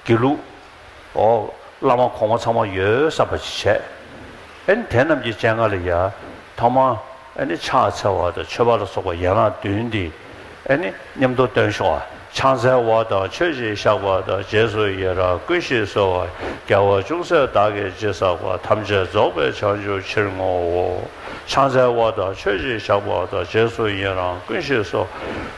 དགེ་ལུགས། ཨོ། བླ་མ་གོང་མ་ཚང་མ་ཡོད་བསམ་པ་ཅིག་བྱས། ཨེ་ནི་དེ་རྣམས་ཀྱི་སྤྱན་སྔར་ལ་ཡ། ཐོག་མ། ཨེ་ནི་ཕྱག་འཚལ་བ་དང་མཆོད་པ་ལ་སོགས་པ་ཡན་ལག་བདུན་འདི། ཨེ་ནི་ཉམས་རྟོགས་སྟོན་ཤོག། ཕྱག་འཚལ་བ་དང་མཆོད་ཅིང་བཤགས་པ་དང་རྗེས་སུ་ཡི་རང་ཀུན་ཞིག་གསོལ་བ། རྒྱལ་བ་ཅུང་ཟད་བདག་གི་རྗེས་བསགས་པ་ཐམས་ཅད་རྫོགས་པའི་བྱང་ཆུབ་ཕྱིར་བསྔོའོ། ཕྱག་འཚལ་བ་དང་མཆོད་ཅིང་བཤགས་པ་དང་རྗེས་སུ་ཡི་རང་ཀུན་ཞིག་གསོལ།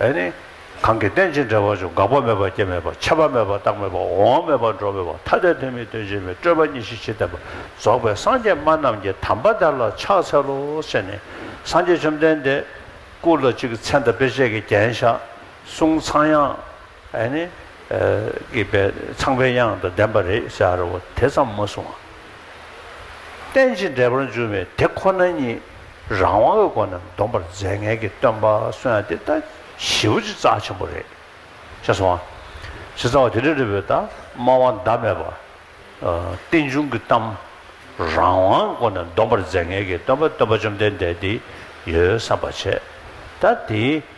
ཨེ་ནི། གང་གིས་རྟེན་ཅིང་འབྲེལ་བར་འབྱུང་འགག་པ་མེད་པ་སྐྱེ་མེད་པ་འཆད་པ་མེད་པ་རྟག་མེད་པ་འོང་བ་མེད་པ་འགྲོ་མེད་པ་ཐ་དད་དོན་མེད་དོན་སྤྱི་མེད་སྤྲོས་པ་གཉིས་ཤེས་ཕྱིར་བསྟན་པ་རྫོགས་པའི་སངས་རྒྱས་སྨྲ་རྣམས་ཀྱི་དམ་པ་དག་ལ་ཕྱག་འཚལ་ལོ་ཞེས་ནི། སངས་རྒྱས་བཅོམ་ལྡན་འདས། སྐུ་ལ་གཅིག་མཚན་དང་དཔེ་བྱད་ཀྱིས་བརྒྱན་བཞག། གསུང་ཚངས་དབྱངས། ཨ་ནི། སྐྱེས་པའི་ཚངས་པའི་དབྱངས་དང་ལྡན་པ་རེད་བཞག་རེ་བ་དེ་ཙམ་མ་གསུང་ཨ། རྟེན་ཅིང་འབྲེལ་པར་འབྱུང་བའི་དེ་ཁོ་ན་ཉིད་རང་དབང་གི་སྒོ་ནས་འདོམས་པར་མཛད་ངེས་ཀྱི་སྟོན་པ་གསོན་ཡང་དེ་ལྟ་བཞི་བོ་ཅི་རྩ་ཆེན་པོ་རེད་བཞག་སོང་ཨ། ཇི་རྩ་བ་དེ་འདྲ་རེད་བོད་དང་སྨྲ་བ་འདའ་མེད་པ། རྟེན་འབྱུང་གི་གཏམ། རང་དབང་གི་སྒོ་ནས་འདོམས་པར་མཛད་ངེས་ཀྱི་སྟོན་པ་སྟོན་པ་བཅོམ་ལྡན་འདས་འདི་ཡོད་བསམ་པ་བྱས། ད་དེའི།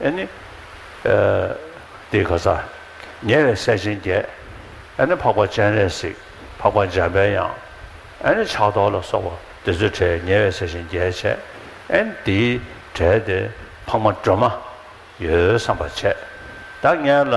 ཨེ་ནི། ཏེ་ག་ས། ཉེ་བའི་སྲས་ཆེན་བརྒྱད། ཨེ་ནི་འཕགས་པ་སྤྱན་རས་གཟིགས་འཕགས་པ་འཇམ་པའི་དབྱངས། ཨེ་ནི་ཕྱག་རྡོར་ལ་སོགས་པ་འདི་ཚོའི་གྲས་ཉེ་བའི་སྲས་ཆེན་བརྒྱད་བྱས། ཨེ་ནི་དེའི་གྲས་དེ་འཕགས་མ་སྒྲོལ་མ། ཡོད་བསམ་པ་བྱས། བདག་གཉེར་ལ།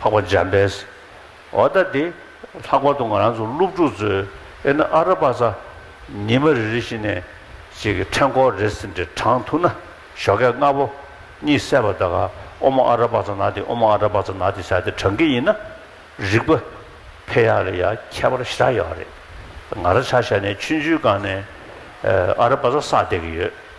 འཕགས་པ་འཇམ་དཔལ། འོ་ད་དེ། ལྷག་པར་དུ་ང་རང་ཚོ་སློབ་ཕྲུག་ཚོས་ཨེ་ན་ཨ་ར་པ་ས། ཉི་མ་རེ་རེ་བཞིན་ནས། ཅིག་གི་ཕྲེང་སྐོར་རེ་ཟིན་དེ་དྲངས་ཐུབ་ན། ཞོགས་སྐད་ལྔ་པོ། གཉིས་བསད་པ་དག་ག་ཨོ་མ་ཨ་ར་པ་ས་ན་དེ་ཨོ་མ་ཨ་ར་པ་ས་ན་དེ་བྱ་དེ་དྲངས་གི་ཡིན་ན། རིག་པ། འཕེལ་ཡག་ལ་ཡ་ཁྱད་པར་ཞེ་དྲག་ཡོད་རེད། ང་ར་ཆ་ཤས་ནས་ཆུ་འཇུའི་སྒང་ནས། ཨ་ར་པ་ས་བསད་གི་ཡོད།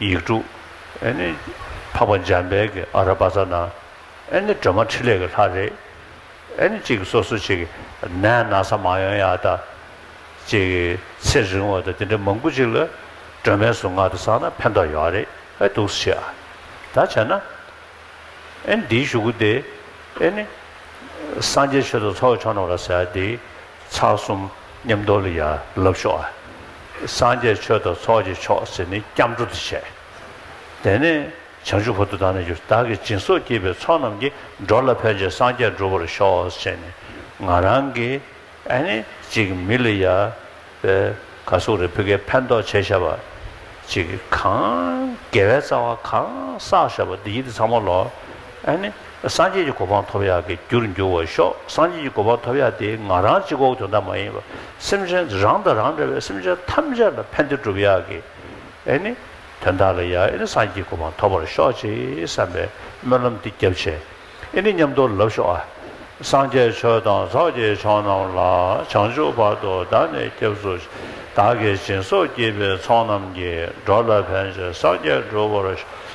ཡིག་དྲུག། ཨེ་ནི། འཕགས་པ་འཇམ་དཔལ་གྱི་ཨ་ར་བ་ཙཱ་ན། ཨེ་ནི་སྒྲོན་མ་ཕྲིན་ལས་ཀྱི་ལྷ་རེ། ཨེ་ནི་ཅིག་སོ་སོ་ཅིག། ནས་ན་ས་མ་ཡོན་ཡག་ད། ཅིག། ཚེ་རིང་བ་དང་དེ་འདྲ་མང་པོ་ཅིག་ལ། སྒྲོན་མའི་གཟུངས་སྔགས་དེ་བསགས་ན་ཕན་ཐོགས་ཡོད་རེད་ཨེ་འདུག་ཟེར་ཡ། ད་བྱས་ན། ཨེ་ནི་འདིའི་ཞུ་སྒོ་དེ། ཨེ་ནི། སངས་རྒྱས་ཆོས་དང་ཚོགས་ཀྱི་མཆོག་རྣམས་ལ་ཟེར་ཡ་དེ། ཚགས་གསུམ། ཉམས་རྟོགས་ལ་ཡར་ལབ་ཤོག་ཨ། སངས་རྒྱས་ཆོས་དང་ཚོགས་ཀྱི་མཆོག་ཟེར་ནས་སྐྱབས་འགྲོ་དུ་བྱས། དེ་ནས་བྱང་ཆུབ་ཧོ་དུ་དང་ནི་གྱུར་བདག་གི་སྦྱིན་སོགས་བགྱིས་པའི་ཚོགས་རྣམས་ཀྱིས་འགྲོ་ལ་ཕན་བྱེད་སངས་རྒྱས་འགྲུབ་པར་ཤོག་ཅེས་ནས་ང་རང་གི་ཨ་ནེ་ཅིག་མི་ལི་ཡ་པའི་ག་སུག་རེ་ཕི་ཀའི་ཕན་ཐོགས་བྱས་ཤ་བ་ཅིག་གང་དགེ་བའི་རྩ་བ་གང་བསགས་ཤ་བ་འདི་ཡིད་ཚང་མ་ལོག་ཨ་ནེ། སངས་རྒྱས་ཀྱི་གོ་འཕང་ཐོབ་ཡག་གི་རྒྱུར་འགྱུར་བར་ཤོག་སངས་རྒྱས་ཀྱི་གོ་འཕང་ཐོབ་ཡག་དེ་ང་རང་གཅིག་ཨོག་དོན་དག་མ་ཡིན་པར་སེམས་ཅན་རང་དང་རང་འདྲ་བའི་སེམས་ཅན་ཐམས་ཅད་ལ་ཕན་བདེ་བསྒྲུབ་ཡག་གི་ཨེ་ནི་དོན་དག་ལ་ཡག་ཨེ་ནི་སངས་རྒྱས་གོ་འཕང་ཐོབ་པར་ཤོག་ཅེས་བསམ་པའི་སྨོན་ལམ་འདི་བརྒྱབ་བྱས་ཨེ་ནི་ཉམས་རྟོགས་ལབ་ཤོག་ཨ། སངས་རྒྱས་ཆོས་དང་ཚོགས་ཀྱི་མཆོག་རྣམས་ལ་བྱང་ཆུབ་བར་དུ་བདག་ནི་སྐྱབས་སུ་མཆི། བདག་གི་སྦྱིན་སོགས་བགྱིས་པའི་ཚོགས་རྣམས་ཀྱིས་འགྲོ་ལ་ཕན་བྱེད་སངས་རྒྱས་འགྲུབ་བར་ཤོག།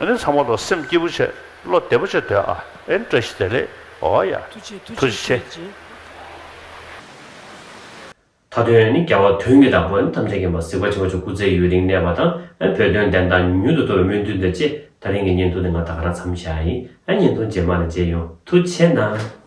ཨ་ནི་ཚ་མོ་ལོ་སེམས་སྐྱིད་པོ་བྱེད་བློ་བདེ་པོ་བྱེད་འདོད་ཨ་ཨེ་བཀྲ་ཤིས་བདེ་ལེགས་ཨོ་ཡ་ཐུགས་རྗེ་ཐུགས་རྗེ་ཆེ། མཐའ་དོན་ཨ་ནི་རྒྱལ་བ་དོན་གྱི་བདག་པོ་ཨ་ནི་ཐམས་ཅད་མཁྱེན་པ་གཟིགས་པ་ཆེན་པོ་ཆོས་སྐུ་ཚེ་ཡུན་རིང་གནས་པ་དང་ཨ་ནི་བོད་དོན་བདེན་མཐའ་མྱུར་དུ་ཐོབ་པའི་སྨོན་འདུན་དང་བཅས་ད་རིང་གི་བརྙན་ཐུང་འདི་ང་ད་ག་རང་འཚམ་བཞག་ཨ་ཡིན་ཨ་བརྙན་ཐུང་རྗེས་མ་ལ་མཇལ་ཡོང་ཐུགས་ཆེ་གནང།